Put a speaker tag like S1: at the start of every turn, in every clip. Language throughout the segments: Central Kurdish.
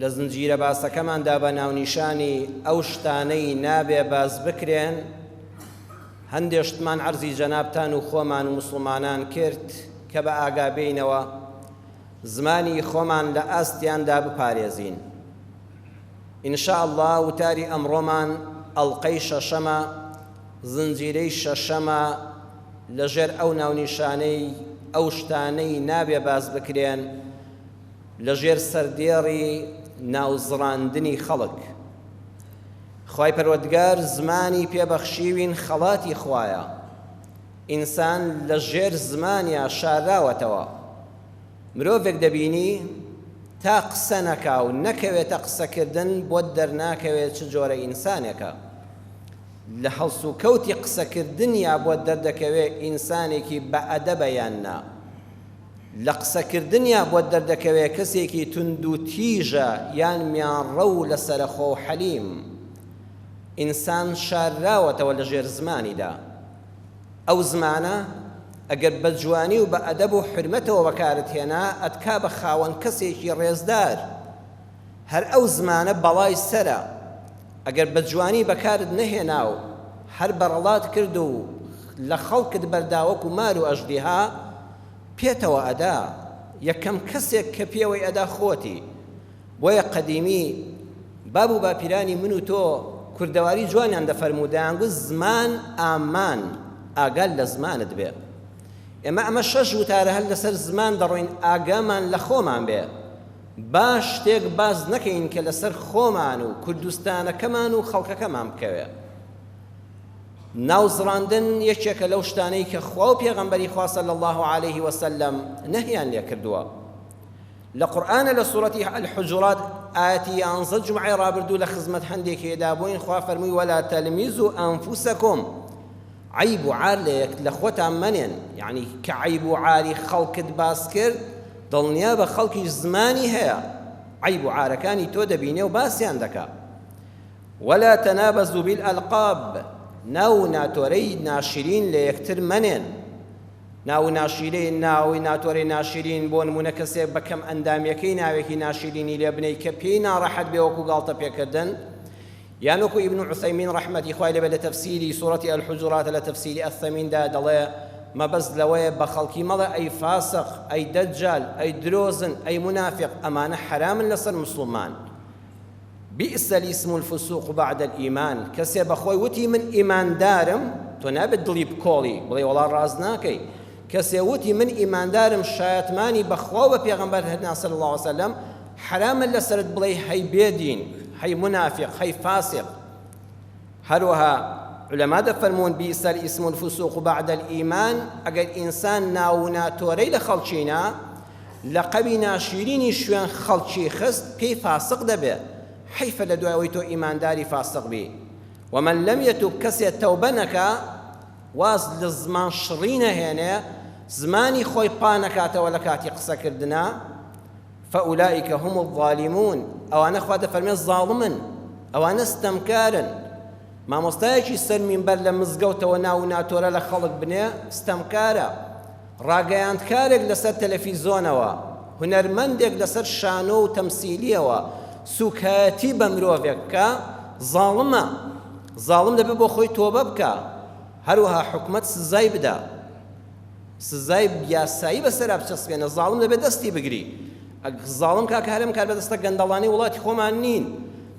S1: لە زنجیرە باسەکەماندا بە ناونیشانی ئەو شتانەی نابێ باس بکرێن هەندێ شتمان عەرزی جەنابتان و خۆمان و موسڵمانان کرد کە بە ئاگا بێینەوە زمانی خۆمان لە ئاستیاندا بپارێزین ان شاء الله وتاری ئەمڕۆمان ئەڵلقەی شەشەمە زنجیرەی شەشەمە لەژێر ئەو ناونیشانەی ئەو شتانەی نابێ باس بکرێن لە ژێر سەردێڕی ناوزڕاندنی خەڵک خوای پەروەردگار زمانی پێ بەخشیوین خەڵاتی خوایە ئینسان لە ژێر زمانیا شاراوەتەوە مرۆڤێک دەبینی تا قسە نەکا و نەکەوێتە قسەکردن بۆت دەرناکەوێت چ جۆرە ئینسانێکە لە هەڵس و کەوتی قسەکردنیا بۆت دەردەکەوێت ئینسانێکی بە ئەدەبە یان نا. لە قسەکردنیا بۆت دەردەکەوێ کەسێکی توندو تیژە یان میانڕەوو لەسەرەخۆو حەلیم. ئینسان شارراوەتەوە لە ژێر زمانیدا. ئەو زمانە ئەگەر بە جوانی و بە ئەدەب و حورمەتەوە بەکارت هێنا ئەتکا بە خاوەن کەسێکی ڕێزدار. هەر ئەو زمانە بەڵای سەرە ئەگەر بە جوانی بەکارت نەهێنا و هەر بەڕەڵات کرد و لە خەڵکت بەردا وەکو مار و ئەژدیها پێتەوە ئەدا یەکەم کەسێک کە پێوەی ئەدا خۆتی بۆیە قەدیمی باب و باپیرانی من و تۆ کوردەواری جوانیان دەفەرموو دەیانگوت زمان ئامان ئاگال لە زمانت بێ ئێمە ئەمە شەش وتارە هەر لەسەر زمان دەڕۆین ئاگامان لە خۆمان بێ. با شتێک باس نەکەین کە لەسەر خۆمان و کوردستانەکەمان و خەڵکەکەمان بکەوێ. ناوزڕاندن یەکێکە لەو شتانەی کە خوا و پێغەمبەری خوا صلی اللە علیه وسلم نەهیان لێ کردووە. لە قورئانە لە سورەتی الحجرات ئاەتی یانزە جمعی رابردوو لە خزمەت هەندێکێدا بووین خوا فەرمووی ولا تلمیزوا انفسکم عەیب و عار لە یەک لە خۆتان مەنێن یانی کە عەیب و عاری خەڵکت باس کرد دڵنیابە خەڵکیش زمانی هەیە عەیب و عارەکانی تۆ دەبینێ و باسیان دەکا ولا تنابزوا بالالقاب ناو و ناتۆرەی ناشرین لە یەکتر مەنێن ناو ناشیرەی ناوی ناتۆرەی ناشرین بۆ نمونە کەسێک بە کەم ئەندامیەکەی ناوێکی ناشرینی لێ بنەی کە پێی ناڕەحەت بێ وەکو گاڵتە پێکردن یان وەکو ئیبن عوسەیمین ڕەحمەتی خوای لێبێت لە تەفسیری سورەتی الحجرات لە تەفسیری الثمین دا دەڵێ، مەبەست لەوەیە بە خەڵکی مەڵێ ئەی فاسق، ئەی دەجال، ئەی درۆزن، ئەی مونافیق، ئەمانە حەرامن لەسەر موسڵمان. بئس الاسم الفسوق بعد الایمان، کەسێ بەخۆی وتی من ئیماندارم، تۆ نابێت دڵی بکۆڵی، بڵێی وەڵا ڕاست ناکەی، کەسێ وتی من ئیماندارم شایەتمانی بە خوا و بە پێغەمبەر هەنا صلی اللە وسلم حەرامە لەسەرت بڵێی هەی بێ دین هەی مونافیق هەی فاسق هەروەها علما دەفەرموون بیس الاسم الفسوق بعد الايمان ئەگەر ئینسان ناو و ناتۆرەی لە خەڵکی نا لەقەوی ناشیرینی شوێن خەڵکی خست پێی فاسق دەبێ حیفە لە دوای ئەوەی تۆ ئیمانداری فاسق بی ومن لم یتوب کەسێ تەوبە نەکا واز لە زمان شڕی نەهێنێ زمانی خۆی قا نەکاتەوە لە کاتی قسە کردنا فاولئک هم الظالمون ئەوانە خوا دەفەرمێ زاڵمن ئەوانە ستەمکارن مامۆستایەکی سەر مینبەر لە مزگەوتەوە ناو و ناتۆرە لە خەڵک بنێ ستەمکارە ڕاگەیاندکارێک لەسەر تەلەفیزۆنەوە، هونەرمەندێک لەسەر شانۆ و تەمسیلییەوە سووکایەتی بە مرۆڤێک بکا، زاڵمە. زاڵم دەبێ بۆ خۆی تۆبە بکا. هەروەها حکومەت سزای بدا. سزای یاسایی بەسەرا بچەسپێنە. زاڵم دەبێ دەستی بگری. زاڵم کاکە هەرێم کاربەدەستە گەندەڵانی وڵاتی خۆمان نین.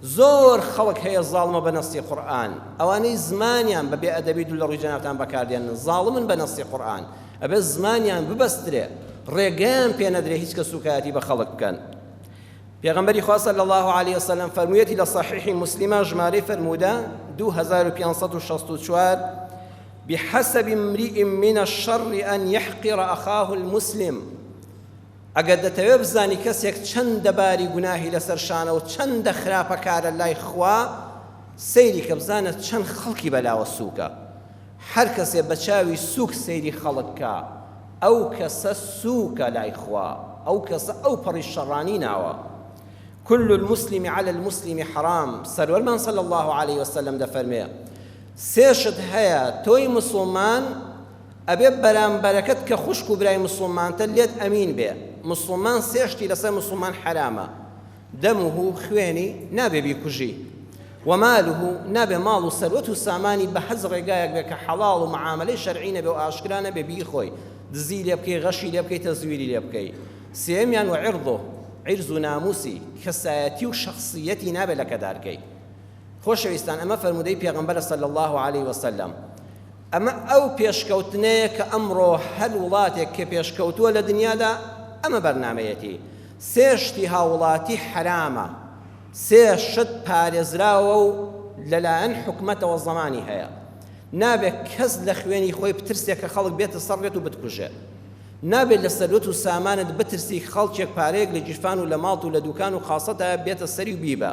S1: زۆر خەڵک هەیە زاڵمە بە نەستی قورئان ئەوانەی زمانیان بە بێ ئەدەبی دوو لە ڕووی جەنابتان بەکار دێنن زاڵمن بە نەستی قورئان ئەبێ زمانیان ببەسترێ ڕێگەیان پێ نەدرێ هیچ کەس سووکایەتی بە خەڵک بکەن پێغەمبەری خوا صلی الله علیه وسلم فەرموویەتی لە صحیح مسلمە ژمارەی فەرموودە 2564 بحسب امرئ من الشر أن يحقر أخاه المسلم ئەگەر دەتەوێت بزانی کەسێک چەندە باری گوناهی لەسەر شانە و چەندە خراپەکارە لای خوا، سەیری کە بزانە چەند خەڵکی بەلاوە سووکە. هەر کەسێ بە چاوی سووک سەیری خەڵک کا، ئەو کەسە سووکە لای خوا، ئەو کەسە ئەوپەڕی شەڕانی ناوە. کل المسلم علی المسلم حرام، سەروەرمان صلی اللە علیە وسلم دەفەرمێ، سێ شت هەیە تۆی مسوڵمان، ئەبێ بەرامبەرەکەت کە خوشک و برای موسڵمانتە لێت ئەمین بێ، موسڵمان سێ شتی لەسەر موسڵمان حەرامە، دمه، خوێنی، نابێ بیکوژی، و ماله، نابێ ماڵ و سەروەت و سامانی بە هەچ ڕێگایەک بێ کە حەڵاڵ و معامەلەی شەرعی نەبێ و ئاشکرا نەبێ بیخۆی، دزی لێ بکەی، غەشی لێ بکەی، تەزویری لێ بکەی. سێیەمیان، و عرضه، عیرز و ناموسی، کەسایەتی و شەخسییەتی نابێ لەکەدار کەی. خۆشەویستان ئەمە فەرموودەی پێغەمبەرە صلی اللە علیە وسلم. ئەمە ئەو پێشکەوتنەیە کە ئەمڕۆ هەر وڵاتێک کە پێشکەوتووە لە دنیادا ئەمە بەرنامەیەتی. سێ شتی هاوڵاتی حەرامە، سێ شت پارێزراوە و لەلایەن حکومەتەوە زەمانی هەیە. نابێ کەس لە خوێنی خۆی بترسێ کە خەڵک بێتە سەر ڕێت و بتکوژێ. نابێ لە سەروەت و سامانت بترسی خەڵکێک پارەیەک لە گیرفان و لە ماڵت و لە دووکان و خاسەتا بێتە سەری و بیبا.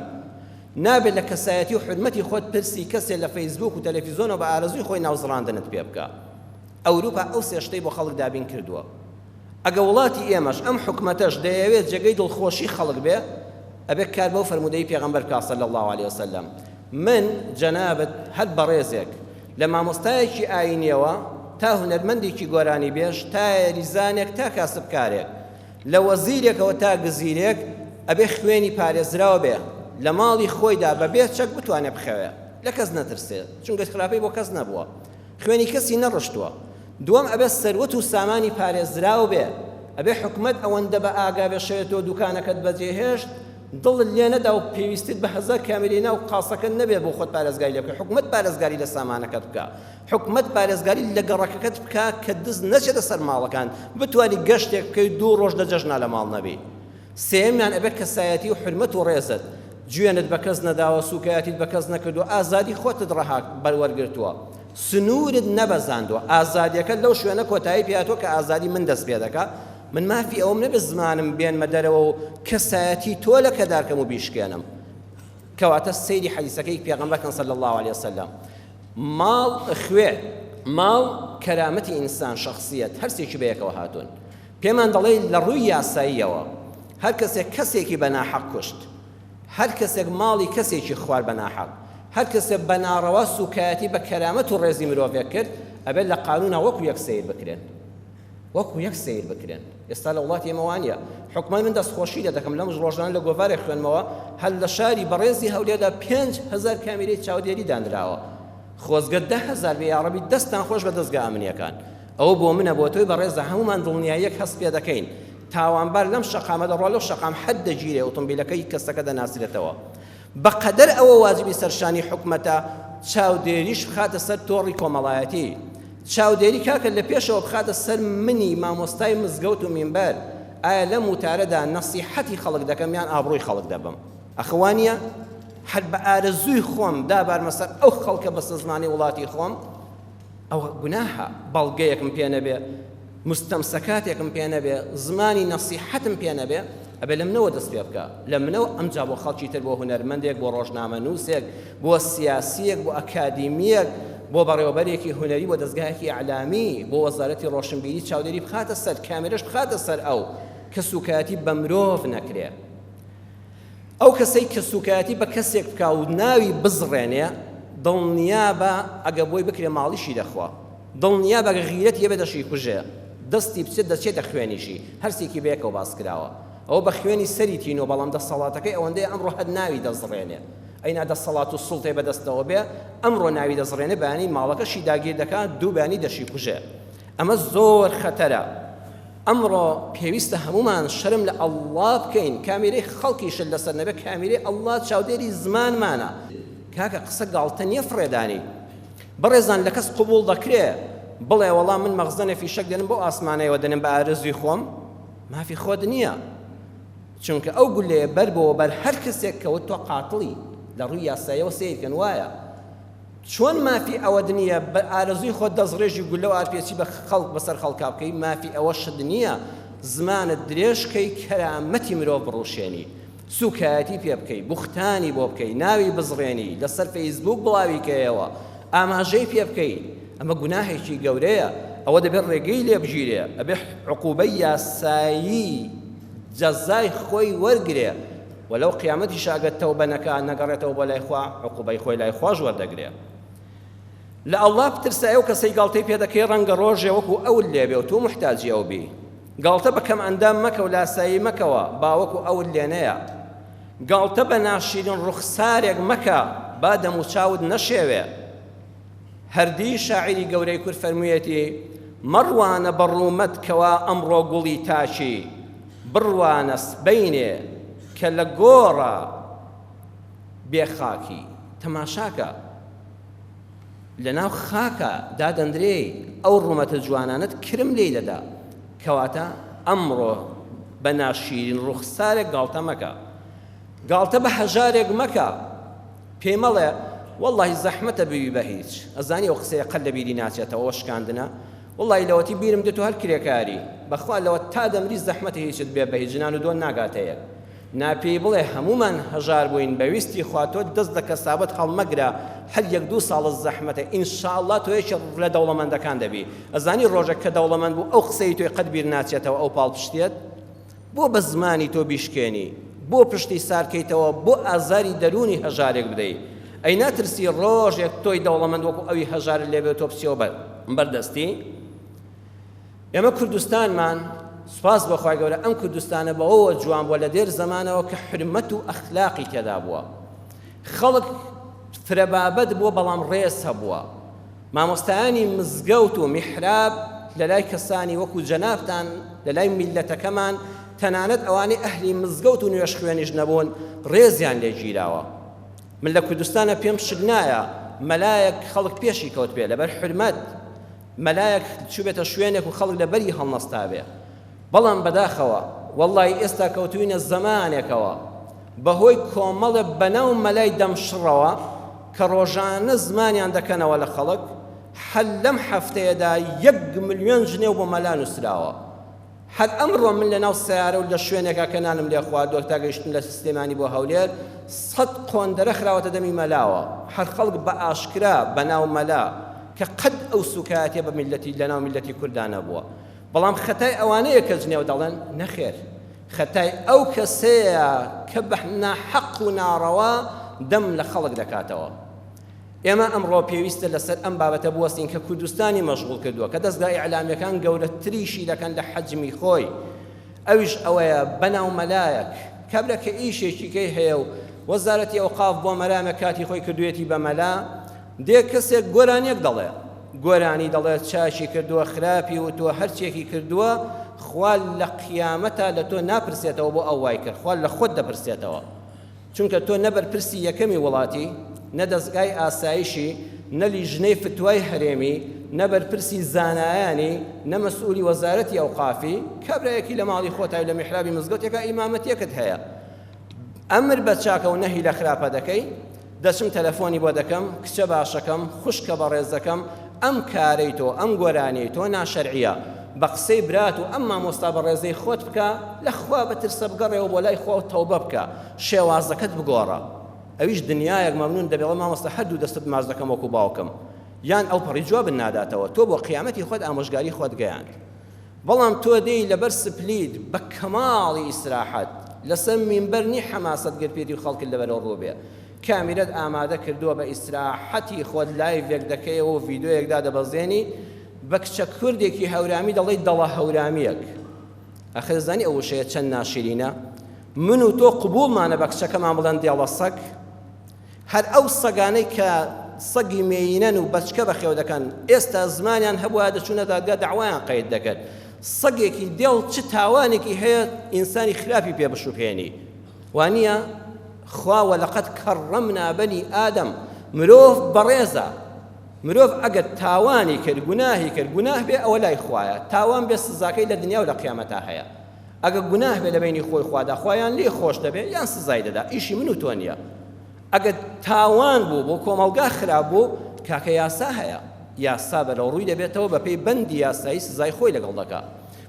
S1: نابێت لە کەسایەتی و حورمەتی خۆت پرسی کەسێ لە فەیسبووک و تەلەفیزۆنەوە بە ئارەزووی خۆی ناوزڕاندنت پێ بکا. ئەوروپا ئەو سێ شتەی بۆ خەڵک دابین کردووە. ئەگە وڵاتی ئێمەش، ئەم حکومەتەش دەیەوێ جێگەی دڵخۆشی خەڵک بێ، ئەبێ کار بەو فەرموودەی پێغەمبەر بکا صلی اللە علیە وسلم. من، جەنابت، هەر بەڕێزێک، لە مامۆستایەکی ئایینیەوە تا هونەرمەندێکی گۆرانیبێژ، تا یاریزانێک تا کاسبکارێک، لە وەزیرێکەوە تا گزیرێک ئەبێ خوێنی پارێزراو بێ لە ماڵی خۆیدا بە بێ چەک بتوانێ بخەوێ لە کەس نەترسێ چونکە خراپەی بۆ کەس نەبووە خوێنی کەسی نەڕشتووە دووەم ئەبێ سەروەت و سامانی پارێزراو بێ ئەبێ حکومەت ئەوەندە بە ئاگا بێ شەوێ تۆ دوکانەکەت بەجێهێشت دڵت لێ نەدا و پێویستت بە هەزار کامێرەی ناو قاسەکەت نەبێ بۆ خۆت پارێزگاری لێ بکەی حکومەت پارێزگاری لە سامانەکەت بکا حکومەت پارێزگاری لە گەڕەکەکەت بکا کە دز نەچێتە سەر ماڵەکان بتوانی گەشتێک بکەی دوو ڕۆژ لە جەژنا لە ماڵ نەبی سێمیان ئەبێ کەسایەتی و حرمەت و ڕێزت جوێنت بە کەس نەداوە سوکایەتیت بە کەس نەکردو ئازادی خۆتت ڕەها بەروەرگرتووە سنوورت نەبەزاندووە ئازادیەکە لەو شوێنە کۆتایی پێاتۆ کە ئازادی من دەست پێ دەکا من مافی ئەوم نەبێت زمانم بێنمە دەرەوە و کەسایەتی تۆ لە کەدارکەم و بیشکێنم کەواتە سەیری حەدیسەکەی پێغەمبەر کەن صلی الله علیه وسلم ماڵ، خوێ، ماڵ، کەرامەتی ئینسان، شەخسییەت، هەر سێکی بەیەکەوە هاتوون. پێمان دەڵێت لە ڕووی یاساییەوە هەر کەسێک کەسێکی بە ناحەق کوشت، هەر کەسێک ماڵی کەسێکی خوارد بە ناحەق، هەر کەسێک بە ناڕەوا سووکایەتی بە کەرامەت و ڕێزی مرۆڤێک کرد، ئەبێت لە قانوونە وەکو یەک سەیر بکرێن. وەکو یەک سەیر بکرێن ئێستا لە وڵاتی ئێمە وانیە حکومای من دەست خۆشی لێ دەکەم لەم ڕۆژانە لە گۆڤارێک خوێنمەوە هەر لە شاری بەڕێزی هەولێدا پێنج هەزار کامیرەی چاودێری دانراوە خۆزگە دە هەزار بێ یاڕەبی دەستان خۆش بە دەستگا ئەمنیەکان ئەوە بۆ منە بۆ تۆی بەڕێزە هەمومان دڵنیاییەک هەست پێ دەکەین تاوانبار لەم شەقامە دەڕوا لەو شەقام حەد دەگیرێ ئۆتۆمبیلەکەی کەسەکە دەناسرێتەوە بە قەدەر ئەوە واجبی سەرشانی حکومەتە چاودێریش بخاتە سەر تۆڕی کۆمەڵایەتی، چاودێری کاکە لە پێشەوە بخاتە سەر منی مامۆستای مزگەوت و مینبەر، ئایا لەم وتارەدا نەسیحەتی خەڵک دەکەم یان ئابڕووی خەڵک دەبەم؟ ئەخە وا نییە؟ هەر بە ئارەزووی خۆم دابارمە سەر ئەو خەڵکە بەستەزمانەی وڵاتی خۆم؟ ئەوە گوناحە بەڵگەیەکم پێ نەبێ موستەمسەکاتێکم پێ نەبێ زمانی نەسیحەتم پێ نەبێ ئەبێ لە منەوە دەست پێ بکا لە منەوە ئەمجا بۆ خەڵکی تر بۆ هونەرمەندێک بۆ ڕۆژنامە نووسێک بۆ سیاسیەک بۆ ئەکادیمیەک بۆ بەڕێوەبەرێکی هونەری بۆ دەزگایەکی ئەعلامی بۆ وەزارەتی ڕۆشنبیری چاودێری بخاتە سەر کامێرەش بخاتە سەر ئەو کە سوکایەتی بە مرۆڤ نەکرێ. ئەو کەسەی کە سوکایەتی بە کەسێک بکا و ناوی بزڕێنێ دڵنیابە ئەگە بۆی بکرێ ماڵیشی دەخوا دڵنیابە گە غیرەتی هەبێ دەشی کوژێ دەستی بچێت دەچێتە خوێنیشی هەرسێکی بەیەکەوە باس کراوە ئەوە بە خوێنی سەری تینۆ بەڵام دەسەڵاتەکەی ئەوەندەی ئەمڕۆ هەر ناوی دەزڕێنێ ئەینا دەسەڵات و سوڵتەی بەدەستەوە بێ ئەمڕۆ ناوی دەزڕێنێ بەیانی ماڵەکەشی داگیر دەکات دوو بەیانی دەشی کوژێ ئەمە زۆر خەتەرە ئەمڕۆ پێویستە هەموومان شەرم لە ئەڵڵا بکەین کامیرەی خەڵکیشت لەسەر نەبێت کامیرەی ئەڵڵا چاودێری زمانمانە کاکە قسە گاڵتە نییە فڕێدانی بەڕێزان لە کەس قبوڵ دەکرێ بڵێ وەڵام من مەغزەنە فیشەک دێنم بۆ ئاسمانەوە دێنم بە ئارزوی خۆم مافی خۆت نییە چونکە ئەو گولەیە بەر بۆ بەر هەر کەسێک کەوت تۆ قاتڵی لە ڕووی یاسایەوە سیرکەن وایە چۆن مافی ئەوەت نییە بە ئارەزووی خۆت دەستڕێژی گوللە و ئارپێچی بە خەڵک بەسەر خەڵکا بکەی، مافی ئەوەشت نییە زمانت درێژ بکەی کەرامەتی مرۆڤ بڕوشێنی، سووکایەتی پێ بکەی، بوختانی بۆ بکەی، ناوی بزڕێنی، لەسەر فەیسبووک بڵاوی کەیەوە، ئاماژەی پێ بکەی، ئەمە گوناهێکی گەورەیە، ئەوە دەبێ ڕێگەی لێ بگیرێ، ئەبێ عقوبەی یاسایی جەزای خۆی وەرگرێ. وە لەو قیامەتیشا ئەگەر تەوبە نەکا نەگەڕێتەوە بۆ لای خوا عقوبەی خۆی لای خواش وەردەگرێ لە اللە بترسە ئەو کەسەی گاڵتەی پێدەکەی ڕەنگە ڕۆژێ وەکو ئەول لێبێ و تۆ محتاجی ئەو بی گاڵتە بە کەم ئەندام مەکە و لاسایی مەکەوە باوەکو ئەول لێنەیە گاڵتە بە ناشیرین ڕوخسارێک مەکە با دەموچاوت نەشێوێ هەردی شاعیری گەورەی کورد فەرموویەتی، مەڕوانە بە ڕوومەت کەوە ئەمڕۆ گوڵی تاکی، بڕوانە سبەینێ کە لە گۆڕە بێ خاکی. تەماشاکە لە ناو خاکا دادەندرێی، ئەو ڕوومەتە جوانانەت کرم لێی دەدا. کەواتە ئەمڕۆ بە ناشیرین ڕووخسارێک گاڵتە مەکە. گاڵتە بە هەژارێک مەکە پێی مەڵێ وەڵاهی زەحمەتە ببی بە هیچ ئەزانی ئەو قسەیە قەت لە بیری ناچێتەوە ئەوە شکاندنە وەڵاهی لەوەتی بیرم دێتۆ هەر کرێکاری بەخوا لەوە تا دەمری زەحمەتە هیچت بێ بەهیچ ژنان و دۆن ناگاتە یەک نا پێی بڵێ هەموومان هەژار بووین بە ویستی خوا تۆ دەست لە کەسابەت هەڵمەگرە هەر یەک دوو ساڵە زەحمەتە ئینشاڵڵا تۆ یەکێ لە دەوڵەمەندەکان دەبی ئەزانی ڕۆژێک کە دەوڵەمەند بوو ئەو قسەی تۆی قەت بیر ناچێتەوە ئەو پاڵپشتیت بۆ بە زمانی تۆ بیشکێنی؟ بۆ پشتی سار کەیتەوە؟ بۆ ئازاری دەروونی هەژارێک بدەی؟ ئەی ناترسی ڕۆژێک تۆی دەوڵەمەند وەکو ئەوی هەژارت لێ بێ و تۆ بچیەوە بە بەر دەستی؟ ئێمە کوردستانمان سوپاس بۆ خوای گەورە ئەم کوردستانە بەوەوە جوان بووە لە دێر زەمانەوە کە حورمەت و ئەخلاقی تێدا بووە خەڵک فرە بابەت بووە بەڵام ڕێز هەبووە. مامۆستایانی مزگەوت و میحراب لەلای کەسانی وەکو جەنابتان لەلای میللەتەکەمان تەنانەت ئەوانەی ئەهلی مزگەوت و نوێژخوێنیش نەبوون ڕێزیان لێ گیراوە من لە کوردستانە پێم شک نایە مەلایەک خەڵک پێشی کەوت بێ لەبەر حورمەت مەلایەک چوبێتە شوێنێک و خەڵک لەبەری هەڵنەستابێ بەڵام بەداخەوە وەڵڵاهی ئێستا کەوتووینە زەمانێکەوە بە هۆی کۆمەڵێ بەناو مەلای دەم شڕەوە کە ڕۆژانە زمانیان دەکەنەوە لە خەڵک هەر لەم هەفتەیەدا یەک ملیۆن جنێو بۆ مەلا نووسراوە هەر ئەمڕۆ من لەناو سەیارە و لە شوێنێکا کە نانم لێ خواردووە تا گەیشتن لە سلێمانی بۆ هەولێر سەد قۆندەرە خراوەتە دەمی مەلاوە هەر خەڵک بە ئاشکرا بەناو مەلا کە قەت ئەو سووکایەتیە بە میللەتی لەناو میللەتی کوردا نەبووە بەڵام خەتای ئەوانەیە کە جنێو دەڵێن، نەخێر خەتای ئەو کەسەیە کە بە ناحەق و ناڕەوا دەم لە خەڵک دەکاتەوە. ئێمە ئەمڕۆ پێویستە لەسەر ئەم بابەتە بوەستین کە کوردستانی مەشغوڵ کردووە کە دەزگا ئیعلامییەکان گەورەتریشی دەکەن لە حەجمی خۆی ئەویش ئەوەیە بەناو مەلایەک کابرا کە ئیشێکی کەی هەیە و وەزارەتی ئەوقاف بۆ مەرامێک کاتی خۆی کردوویەتی بە مەلا دێ کەسێک گۆرانیەک دەڵێ گۆرانی دەڵێ چاشی کردوە خراپی وتوە هەرچیەکی کردوە خوا لە قیامەتا لە تۆ ناپرسێتەوە بۆ ئەو وای کرد خوا لە خۆت دەپرسێتەوە چونکە تۆ نە بەرپرسی یەکەمی وڵاتی نە دەزگای ئاسایشی نە لیژنەی فتوای هەرێمی نە بەرپرسی زانایانی نە مەسئولی وەزارەتی ئەوقافی کابرایەکی لە ماڵی خۆتای لە میحرابی مزگەوتێکا ئیمامەتیەکت هەیە ئەمر بە چاکە و نەهی لە خراپە دەکەی دەچم تەلەفۆنی بۆ دەکەم کچە باشەکەم خوشکە بەڕێزەکەم ئەم کارەی تۆ ئەم گۆرانیەی تۆ ناشەرعیە بە قسەی برات و ئەم مامۆستا بەڕێزەی خۆت بکە لە خوا بەترسە بگەڕێەوە بۆ لای خوا و تەوبە بکە شێوازەکەت بگۆڕە ئەویش دنیایەک مەمنون دەبێڵە مامۆستا هەردوو دەستت ماچ دەکەم وەکو باوکم یان ئەو پەڕی جوابن ناداتەوە تۆ بۆ قیامەتی خۆت ئامۆژگاری خۆت گەیاند بەڵام تۆ دێی لەبەر سپلیت بە کەماڵی ئیسراحەت لەسەر مینبەر نی حەماسەت گەر پێتی و خەڵکت لەبەرەو ڕوو بێ کامیرەت ئامادە کردووە بە ئیسراحەتی خۆت لایڤێک دەکەیەوە و ڤیدۆیەک دادەبەزێنی بە کچە کوردێکی هەورامی دەڵێی دەڵە هەورامیەک ئەخە دەزانی ئەو وشەیە چەند ناشرینە من و تۆ قبوڵمانە بە کچەکەمان بڵێن دێڵە سەگ هەر ئەو سەگانەی کە سەگی مێیینەن و بەچکە بەخێو دەکەن، ئێستا زمانیان هەبوایە دەچوونە دادگا دەعوایان قەید دەکرد. سەگێکی دێڵ چ تاوانێکی هەیە ئینسانی خراپی پێ بشوبهێنی؟ وانییە؟ خوا وەلەقەد کەڕەمنا بەنی ئادەم، مرۆڤ بەڕێزە، مرۆڤ ئەگەر تاوانی کرد، گوناهی کرد، گوناه بێ ئەوە لای خوایە، تاوان بێ سزاکەی لە دنیا و لە قیامەتا هەیە. ئەگە گوناه بێ لەبەینی خۆی خوادا خوا یان لێ خۆش دەبێ یان سزای دەدا ئیشی من و تۆ نییە ئەگە تاوان بوو بۆ کۆمەڵگا خراپ بوو کاکە یاسا هەیە یاسا بەرەو ڕووی دەبێتەوە بە پێی بەندی یاسایی سزای خۆی لەگەڵ دەکا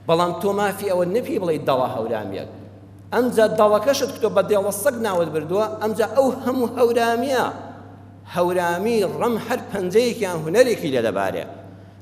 S1: بەڵام تۆ مافی ئەوە نەپی بڵێ دەڵە هەورامیەک ئەمجا دەڵەکەشت کتۆ بە دێڵە سەگ ناوت بردووە ئەمجا ئەو هەموو هەورامیە هەورامی ڕەم هەر پەنجەیەکیان هوەرێکی لێ دەبارێ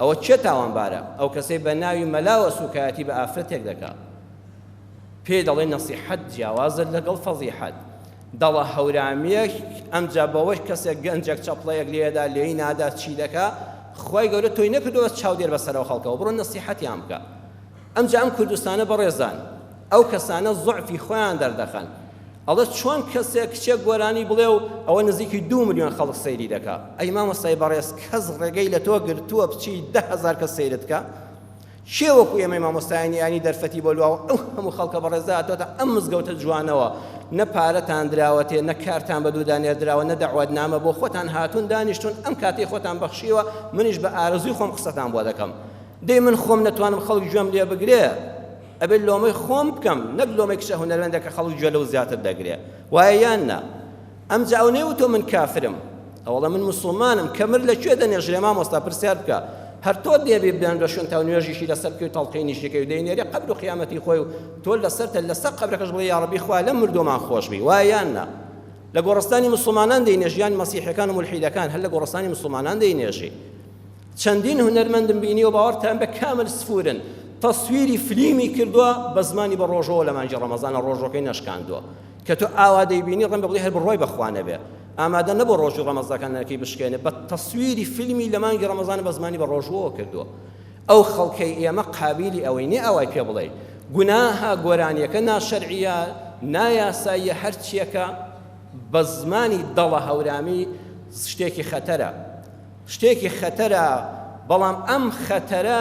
S1: ئەوە کێ تاوانبارە؟ ئەو کەسەی بە ناوی مەلاوە سوکایەتی بە ئافرەتێک دەکا پێی دەڵێ نەسیحەت جیاوازە لەگەڵ فەزیحەت دەڵە هەورامیەک ئەمجا بەوەش کەسێک گەنجێک چەپڵەیەک لێدا لێی نادا چی دەکا خوای گەورە تۆی نەکردووە چاودێر بەسەرەوە خەڵکەوە بڕۆ نەسیحەتیان بکە ئەمجا ئەم کوردستانە بەڕێزان ئەو کەسانە زوعفی خۆیان دەردەخەن ئەڵێ چۆن کەسێک کچێک گۆرانی بڵێ و ئەوە نزیکی دوو ملیۆن خەڵک سەیری دەکا ئەی مامۆستای بەڕێز کەس ڕێگەی لە تۆ گرتووە بچی دە هەزار کەس سەیرت کا کێ وەکو ئێمەی مامۆستایانی یانی دەرفەتی بۆ لواوە ئەو هەموو خەڵکە بەڕێزە هاتۆتە ئەم مزگەوتە جوانەوە نە پارەتان دراوەتێ نە کارتان بە دوودا نێردراوە نە دەعوەت نامە بۆ خۆتان هاتون دانیشتون ئەم کاتی خۆتان بەخشیوە منیش بە ئارەزوی خۆم قسەتان بۆ دەکەم دەی من خۆم نەتوانم خەڵک گوێم لێ بگرێ ئەبێت لۆمەی خۆم بکەم نەک لۆمەی کچە هونەرمەندە کە خەڵک گوێ لەو زیاتر دەگرێ وایە یان نا ئەمجا ئەو نەیوتۆ من کافرم ئەوڵە من مسلمانم کەمر لە کوێ دەنێژرێ مامۆستا پرسیار بکە هەر تۆ دێبی بێن بە شوێن تا و نوێژیشی لەسەر بکەی و تەڵقینیشیکەی و دەینێری قەبر و قیامەتی خۆی و تۆ لەسەرتە لەسەر قەبرەکەش بڵێ یا ڕەبی خوا لەم مردۆمان خۆش بی وایە یان نا لە گۆڕستانی مسلمانان دەینێژیان مەسیحەکان و ملحیدەکان هەر لە گۆڕستانی مسلمانان دەینێژی چەندین هونەرمەندم بینیوە باوەڕتان بێ کامل سفورن تەسویری فلیمی کردوە بە زمانی بە ڕۆژەوە لە مانگی ڕەمەزانە ڕۆژەکەی نەشکاندوە کە تۆ ئاوا دەیبینی ڕەنگە بڵێ هەر بڕوای بەخوا نەبێ ئامادە نەبوو ڕۆژی ڕەمەزەکانەکەی بشکێنێ بە تەسویری فیلمی لە مانگی ڕەمەزانە بە زمانی بە ڕۆژوەوە کردووە ئەو خەڵکەی ئێمە قابیلی ئەوەی نێ ئەوای پێ بڵێ گوناها گۆرانیەکە ناشەرعە نایاساییە هەرچیەکە بە زمانی دەڵە هەورامی شتێکی خەتەرە شتێکی خەتەرە، بەڵام ئەم خەتەرە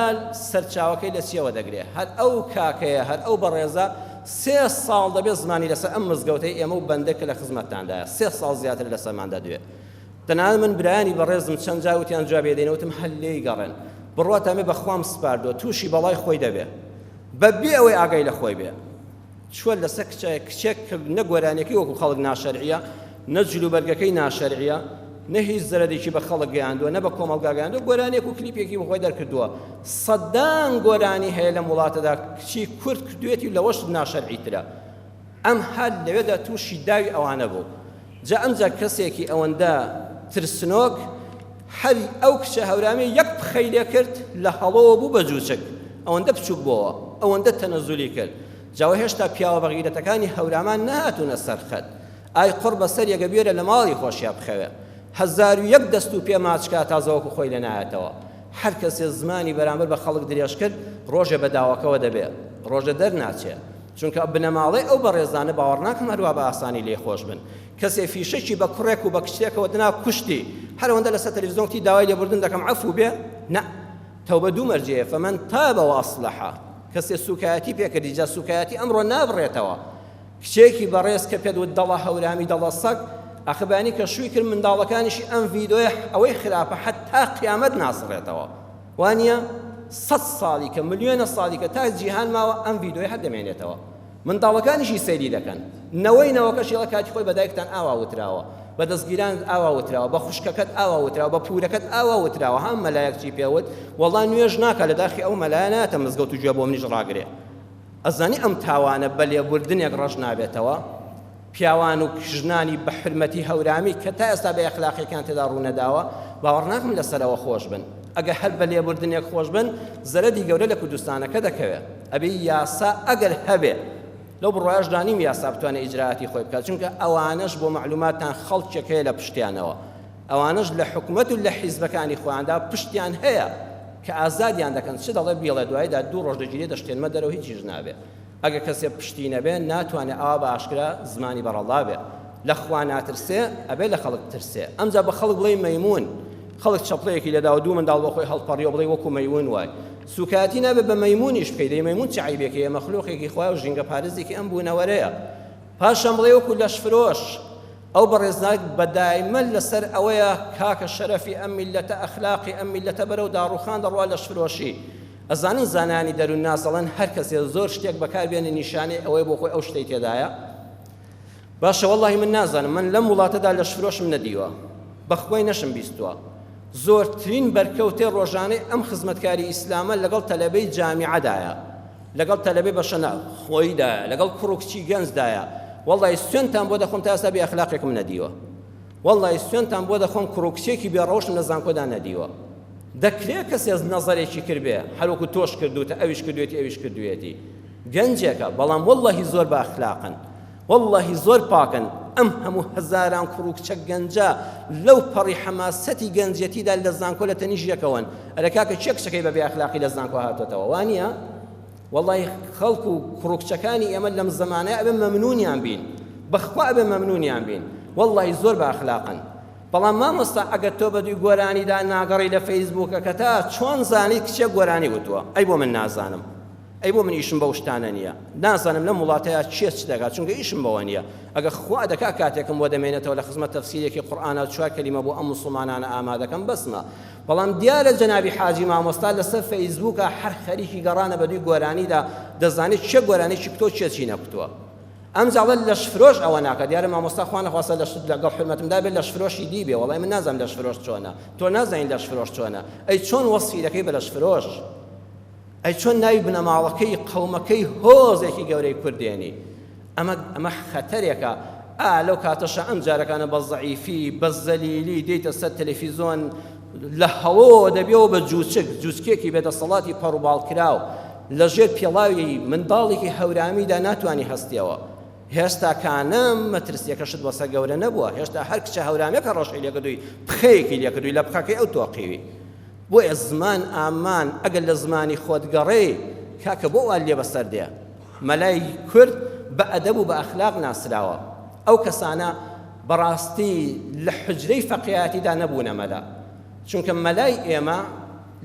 S1: سەرچاوەکەی لە چیەوە دەگرێ؟ هەر ئەو کاکەیە، هەر ئەو بەڕێزە سێ ساڵ دەبێ زمانی لەسەر ئەم مزگەوتەی ئێمە و بەندە کە لە خزمەتتاندایە سێ ساڵ زیاترە لەسەرمان دەدوێ. تەنانەت من برایانی بەڕێزم چەند جار وتیان جوابی دەینە وتم هەر لێی گەڕێن. بڕواتان بێ بە خوام سپاردووە تووشی بەڵای خۆی دەبێ بە بێ ئەوەی ئاگای لە خۆی بێ. چوە لەسەر کچە کچێک کە نە گۆرانیەکەی وەکو خەڵک ناشەرعیە نە جلوبەرگەکەی ناشەرعیە نە هیچ زەرەدێکی بە خەڵک گەیاندووە نە بە کۆمەڵگا گەیاندووە گۆرانیەک و کلیپێکی بەخۆی دەرکردووە سەدان گۆرانی هەیە لەم وڵاتەدا کچی کورد کردوێتی لەوەش ناشەرعی ترە ئەم هەر لەوێدا تووشی داوی ئەوانە بوو جا ئەمجا کەسێکی ئەوەندە ترسنۆک هەر ئەو کچە هەورامیە یەک پخەی لێ کرد لە هەڵۆوە بوو بە جوچک ئەوەندە بچوک بۆوە ئەوەندە تەنەزولی کرد جاوە هێشتا پیاوە بەغیرەتەکانی هەورامان نەهاتونە سەرخەت ئای قڕ بەسەر یەگە بێرە لە ماڵی خۆشیا بخەوێ هەزار و یەک دەست و پێ ماچکا تا زەوەکو خۆی لە نایەتەوە هەر کەسێ زمانی بەرامبەر بە خەڵک درێژ کرد ڕۆژێ بە داوەکەوە دەبێ ڕۆژە دەرناچێ چونکە بنەماڵەی ئەو بەڕێزانە باوەڕناکەم هەروا بە ئاسانی لێی خۆش بن. کەسێ فیشەکی بە کوڕێک و بە کچێکەوە دنا کوشتی، هەر ئەوەندە لەسەر تەلەفیزیۆن گوتی داوای لێبوردن دەکەم عەفوو بێ؟ نا. تەوبە دوو مەرجەیە، فمن تاب و اصلح. کەسێ سووکایەتی پێ کردی، جا سووکایەتی ئەمڕۆ نابڕێتەوە. کچێکی بەڕێز کە پێت وت دەڵە هەورامی دەڵە سەگ، ئاخر بەیانی کە شووی کرد منداڵەکانیشی ئەم ڤیدۆیە ئەوەی خراپە حەتتا قیامەت ناسڕێتەوە. وانیە سەد ساڵیکە ملیۆنە ساڵیکە تا جیهان ماوە ئەم ڤیدۆیە هەر دەمێنێتەوە منداڵەکانیشی سەیری دەکەن نەوەی نەوەکەش یڵە کاتی خۆی بە دایکتان ئاوا وتراوە بە دەستگیران ئاوا وتراوە بە خوشکەکەت ئاوا وتراوە بە پورەکەت ئاوا وتراوە هەم مەلایەک چی پێوت وەڵا نوێژ ناکە لە داخی ئەو مەلایەناتە مزگەوت و گوێ بۆ منیش ڕاگرێ ئەزانی ئەم تاوانە بە لێبوردنێک ڕەش نابێتەوە پیاوان و ژنانی بە حورمەتی هەورامی کە تا ئێستا بێ ئەخلاقیەکیان تێدا ڕوونەداوە باوەڕ ناکەم لە سەرەوە خۆش بن ئەگەر هەر بە لێبوردنێک خۆش بن زەرەدی گەورە لە کوردستانەکە دەکەوێت ئەبێ یاسا ئەگەر هەبێ لەو بڕایش دانیم یاسا بتوانێت ئیجرااتی خۆی بکات چونکە ئەوانش بۆ معلوماتان خەڵکێک هەیە لە پشتیانەوە ئەوانش لە حکومت و لە حیزبەکانی خۆیاندا پشتیان هەیە کە ئازادیان دەکەن چ دەڵێ بیڵێ دوایدا دوو ڕۆژ دەگیرێ دەشتێنمە دەرەوە هیچیش نابێ ئەگەر کەسێ پشتی نەبێ ناتوانێ ئاوا بە ئاشکرا زمانی بەڕەڵا بێ لە خوا ناترسێ ئەبێ لە خەڵک بترسێ ئەمجا بە خەڵک بڵێی مەیموون خەڵک چەپڵەیەکی لێداوە دوو منداڵ بۆ خۆی هەڵپەڕیەوە بڵێی وەکو مەیوون وای سوکایەتی نابێ بە مەیموونیش بکەی دەی مەیموون چ عیبێکی هەیە مەخلوقێکی خوای و ژینگە پارێزێکی ئەم بوونەوەرەیە پاشان بڵێ وەکو لەش فرۆش ئەو بەڕێزناک بە دایمە لەسەر ئەوەیە کاکە شەرەفی ئەم میلەتە ئەخلاقی ئەم میلەتە بەرەو داڕوخان دەڕوا لەش فرۆشی ئەزانن زانایانی دەروونناس دەڵێن هەر کەسێ زۆر شتێک بەکار بێنێ نیشانەی ئەوەیە بۆ خۆی ئەو شتەی تێدایە باشە واللهی من نازانم من لەم وڵاتەدا لەش فرۆشم نەدیوە بەخوای نەشم بیستوە زۆرترین بەرکەوتێ ڕۆژانەی ئەم خزمەتکاری ئیسلامە لەگەڵ تەلەبەی جامیعەدایە لەگەڵ تەلەبەی بەشەنا خۆیدایە لەگەڵ کوڕ و کچی گەنجدایە واللهی سوێنتان بۆ دەخۆم تا ئێستا بێ ئەخلاقێکم نەدیوە واللە ی سوێنتان بۆ دەخۆم کوڕو کچێکی بێ ڕەوشتم لە زانکۆدا نەدیوە دەکرێ کەسێ نەزەرێکی کردبێ هەر وەکو تۆش کردوتە ئەویش کردوێتی ئەویش کردوێتی گەنجێکە بەڵام واللە ی زۆر بائەخلاقن واللە ی زۆر پاکن ئەم هەموو هەزاران کوڕو کچە گەنجە لەو پەڕی حەماسەتی گەنجێتیدا لە زانکۆ لە تەنیش یەکەوەن ئەرێ کاکە کێ کچەکەی بە بێ ئەخلاقی لە زانکۆ هاتۆتەوە وانیە وەڵای خەڵک و کوڕو کچەکانی ئێمە لەم زەمانە ئەبێ مەمنونیان بین بەخوا ئەبێ مەمنونیان بین وەڵای زۆر بە ئەخلاقن بەڵام مامۆستا ئەگەر تۆ بەدوی گۆرانیدا ناگەڕی لە فەیسبووکەکەتا چۆن زانی کچێ گۆرانی وتووە ئەی بۆ من نازانم ئەی بۆ من ئیشم بەو شتانە نییە نازانم لەم وڵاتەیە چێ چ دەگات چونکە ئیشم بەوە نییە ئەگە خوا دەکا کاتێکم بۆ دەمێنێتەوە لە خزمەت تەفسیرێکی قورئانە چوار کەلیمە بۆ ئەم مسڵمانانە ئامادەکەم بەسمە بەڵام دیارە جەنابی حاجی مامۆستا لەسەر فەیسبووکا هەر خەریکی گەڕانە بەدووی گۆرانیدا دەزانێت چێ گۆرانیەکی کوتۆ چێ چی نەکوتووە ئەم جاڵە لەش فرۆش ئەوە ناکە دیارە مامۆستا خوان نەخواستە لەش لەگەڵ حرمەتمدا بێت لەش فرۆشی دی بێ وەڵای من نازانم لەش فرۆش چۆنە تۆ نازانین لەش فرۆش چۆنە ئەی چۆن وەسفی دەکەی بە لەش فرۆش ئەی چۆن ناوی بنەماڵەکەی قەومەکەی هۆزێکی گەورەی کورد دێنی ئەمە ئەمە خەتەرێکە ئا لەو کاتەشە ئەم جارەکانە بە زەعیفی بە زەلیلی دێیتە سەر تەلەفیزۆن لە هەڵۆ دەبێەوە بە جوچک جوچکێکی بێدەسەڵاتی پەڕوباڵ کراو لە ژێر پێڵاوی منداڵێکی هەورامیدا ناتوانانی هەستیەوە هێشتا کانم مەترسیەکەشت بەسە گەورە نەبووە هێشتا هەر کچە هەورامەکە ڕەشەی لێکردووی پخەیەکی لێکردووی لە بخەکەی ئەو تۆقیوی بۆیە زمان ئامان ئەگەر لە زمانی خۆت گەڕێ کاکە بۆ وا لێ بەسەر دێ مەلای کورد بە ئەدەب و بە ئەخلاق ناسراوە ئەو کەسانە بەڕاستی لە حجرەی فەقیاتیدا نەبوونە مەلا چونکە مەلای ئێمە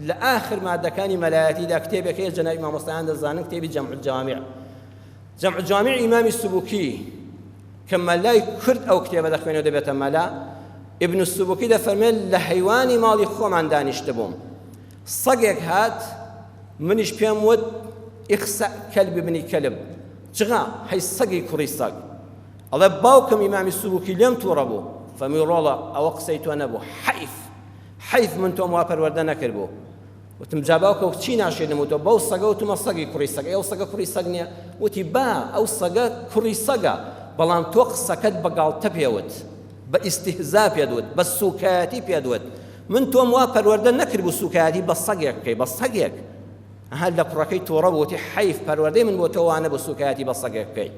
S1: لە ئاخر مادەکانی مەلایەتیدا کتێبێک هەیە جەنابی مامۆستایان دەزانن کتێبی جەمع الجوامع جمع جامع ئیمامی سبوکی کە مەلای کورد ئەو کتێبە دەخوێنێ و دەبێتە مەلا ئیبن سبوکی دەفەرمێت لە حەیوانی ماڵی خۆمان دانیشتبووم سەگێک هات منیش پێم وت ئیخسە کەلب بنی کەلب جغا هەی سەگی کوڕی سەگ ئەڵێ باوکم ئیمامی سبوکی لێم تووڕە بوو فەمی ڕۆڵە ئەوە قسەی تۆ نەبوو حەیف حەیف من تۆم وا پەروەردە نەکرد بوو وتم جا باوکە چی ناشێ نموتەوە بەو سەگە وتمە سەگی کوڕی سەگە ئەو سەگە کوڕی سەگ نییە وتی با ئەو سەگە کوڕی سەگە بەڵام تۆ قسەکەت بە گاڵتە پێوت بە ئیسیهزا پێت وت بە سوکایەتی پێت وت من تۆم وا پەروەردە نەکرد بوو سوکایەتی بە سەگێک بکەی بە سەگێک هەر لە کوڕەکەی تۆڕە بۆتی حیف پەروەردەی من بۆ تۆوانە بە سوکایەتی بە سەگێک بکەی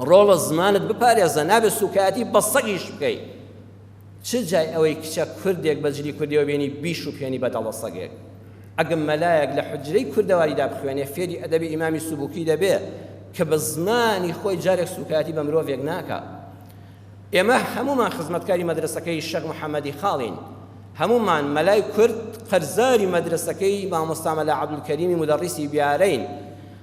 S1: ڕۆڵە زمانت بپارێزە نابێت سوکایەتی بە سەگیش بکەی چ جای ئەوەی کچە کوردێک بە جلی کوردیەوە بێنی بیشوپێنی بە دەڵە سەگێک. ئەگە مەلایەک لە حوجرەی کوردەواریدا بخوێنێ فێری ئەدەبی ئیمامی سوبوکی دەبێ کە بە زمانی خۆی جارێک سوکایەتی بە مرۆڤێک ناکا. ئێمە هەموومان خزمەتکاری مەدرەسەکەی شێخ محەمەدی خاڵین. هەموومان مەلای کورد قەرزاری مەدرەسەکەی مامۆستا مەلا عەبدولکەریمی مودەڕیسی بیارەین.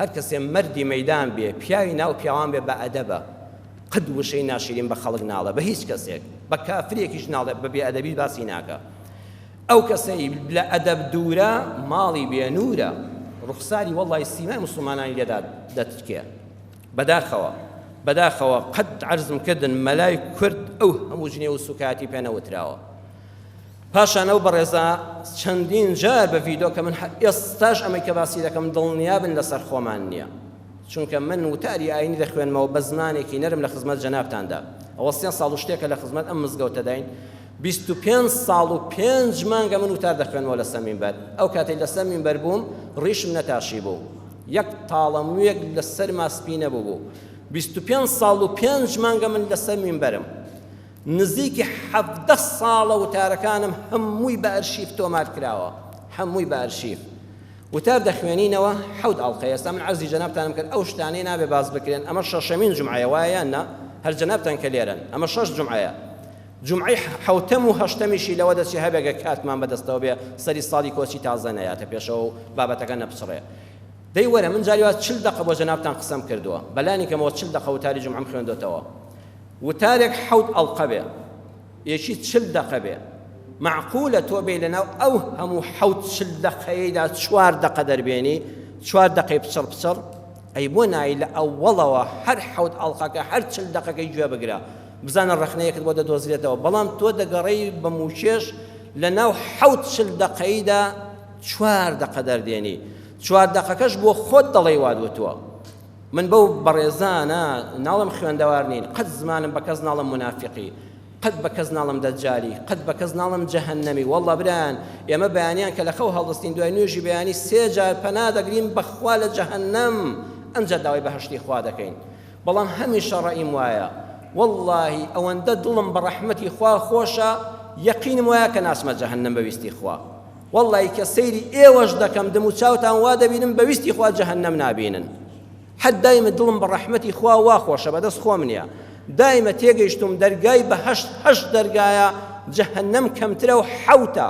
S1: هەر کەسێ مەردی مەیدان بێ پیاوی ناو پیاوان بێ بە ئەدەبە قەت وشەی ناشیرین بە خەڵک ناڵێ بە هیچ کەسێک بە کافرێکیش ناڵێ بە بێ ئەدەبیش باسی ناکا ئەو کەسەی لە ئەدەب دوورە ماڵی بێ نورە ڕوخساری وەڵی سیمای مسلمانانی لێدا دەتکێ بەداخەوە بەداخەوە قەت عەرزم کردن مەلای کورد ئەو هەموو جنێو و سوکایەتی پێ نەوتراوە پاشان ئەو بەڕێزە چەندین جار بە ڤیدۆ کە من ئێستاش ئەمەی کە باسی دەکەم دڵنیابن لەسەر خۆمان نییە چونکە من وتاری ئاینی دەخوێنمەوە بە زمانێکی نەرم لە خزمەت جەنابتاندا ئەوە سێ ساڵ و شتێکە لە خزمەت ئەم مزگەوتەداین بیست و پێنج ساڵ و پێنج مانگە من وتار دەخوێنمەوە لەسەر مینبەر ئەو کاتەی لەسەر مینبەر بووم ڕیشم نەتاشی بوو یەک تاڵە موویەک لەسەر ماسپی نەبوو بوو بیست و پێنج ساڵ و پێنج مانگە من لەسەر مینبەرم نزیکی حەڤدە ساڵە وتارەکانم هەمووی بە ئەرشیف تۆمار کراوە هەمووی بە ئەرشیف وتار دەخوێنینەوە حەوت ئەڵقەیە ئێستا من عەرزی جەنابتانم کرد ئەو شتانەی نابێ باس بکرێن ئەمە شەشەمین جومعەیە وایە یان نا هەر جەنابتان کە لێرەن ئەمە شەش جومعەیە جمعی حوتم و هەشتەمیشی لەوە دەچی هەبێگە کاتمان بەدەستەوە بێ سەری ساڵی کۆچی تازە نەیاتە پێشەوە و بابەتەکە نەپچڕێ دەی وەرە من جاریوات چل دقە بۆ جەنابتان قسەم کردووە بەلانی کەمەوە چل دقە وتاری جمعم خوێندۆتەوە وتارێک حەوت ئەڵقە بێ یەکی چل دەقە بێ مەعقولە تۆ بێی لەناو ئەو هەموو حەوت چل دەقەیەیدا چوار دەقە دەربێنی چوار دەقەی پچڕ پچڕ ئەی بۆ نایی لە ئەوەڵەوە هەر حەوت ئەڵقەکە هەر چل دەقەکەی گوێ بگرە بزانە ڕەخنەیەکت بۆ دەدۆزرێتەوە بەڵام تۆ دەگەڕێی بە موچێش لەناو حەوت چل دەقەیدا چوار دەقە دەردێنی چوار دەقەکەش بۆ خۆت دەڵێی وادوتوە من بەو بەڕێزانە ناڵم خوێندەوار نین قەت زمانم بە کەس ناڵم منافقی قەت بە کەس ناڵم دەجاری قەت بە کەس ناڵم جەهنەمی والله بران ئێمە بەیانیان کە لە خەو هەڵدەستین دوای نوێژی بەیانی سێ جار پەنا دەگرین بەخوا لە جەهنەم ئەمجا داوای بەهشتی خوا دەکەین بەڵام هەمیشە ڕەئیم وایە واللهی ئەوەندە دڵم بە ڕەحمەتی خوا خۆشە یەقینم وایە کە ناچمە جەهنەم بەویستی خوا وەڵڵەی کە سەیری ئێوەش دەکەم دم و چاوتان وا دەبینم بە ویستی خوا جەهەنەم نابینن حەد دایمە دڵم بە ڕەحمەتی خوا وا خۆشە بەدەست خۆم نیە دایمە تێگەیشتوم دەرگای بەهەشت هەشت دەرگایە جەهەنەم کەمترە و حەوتە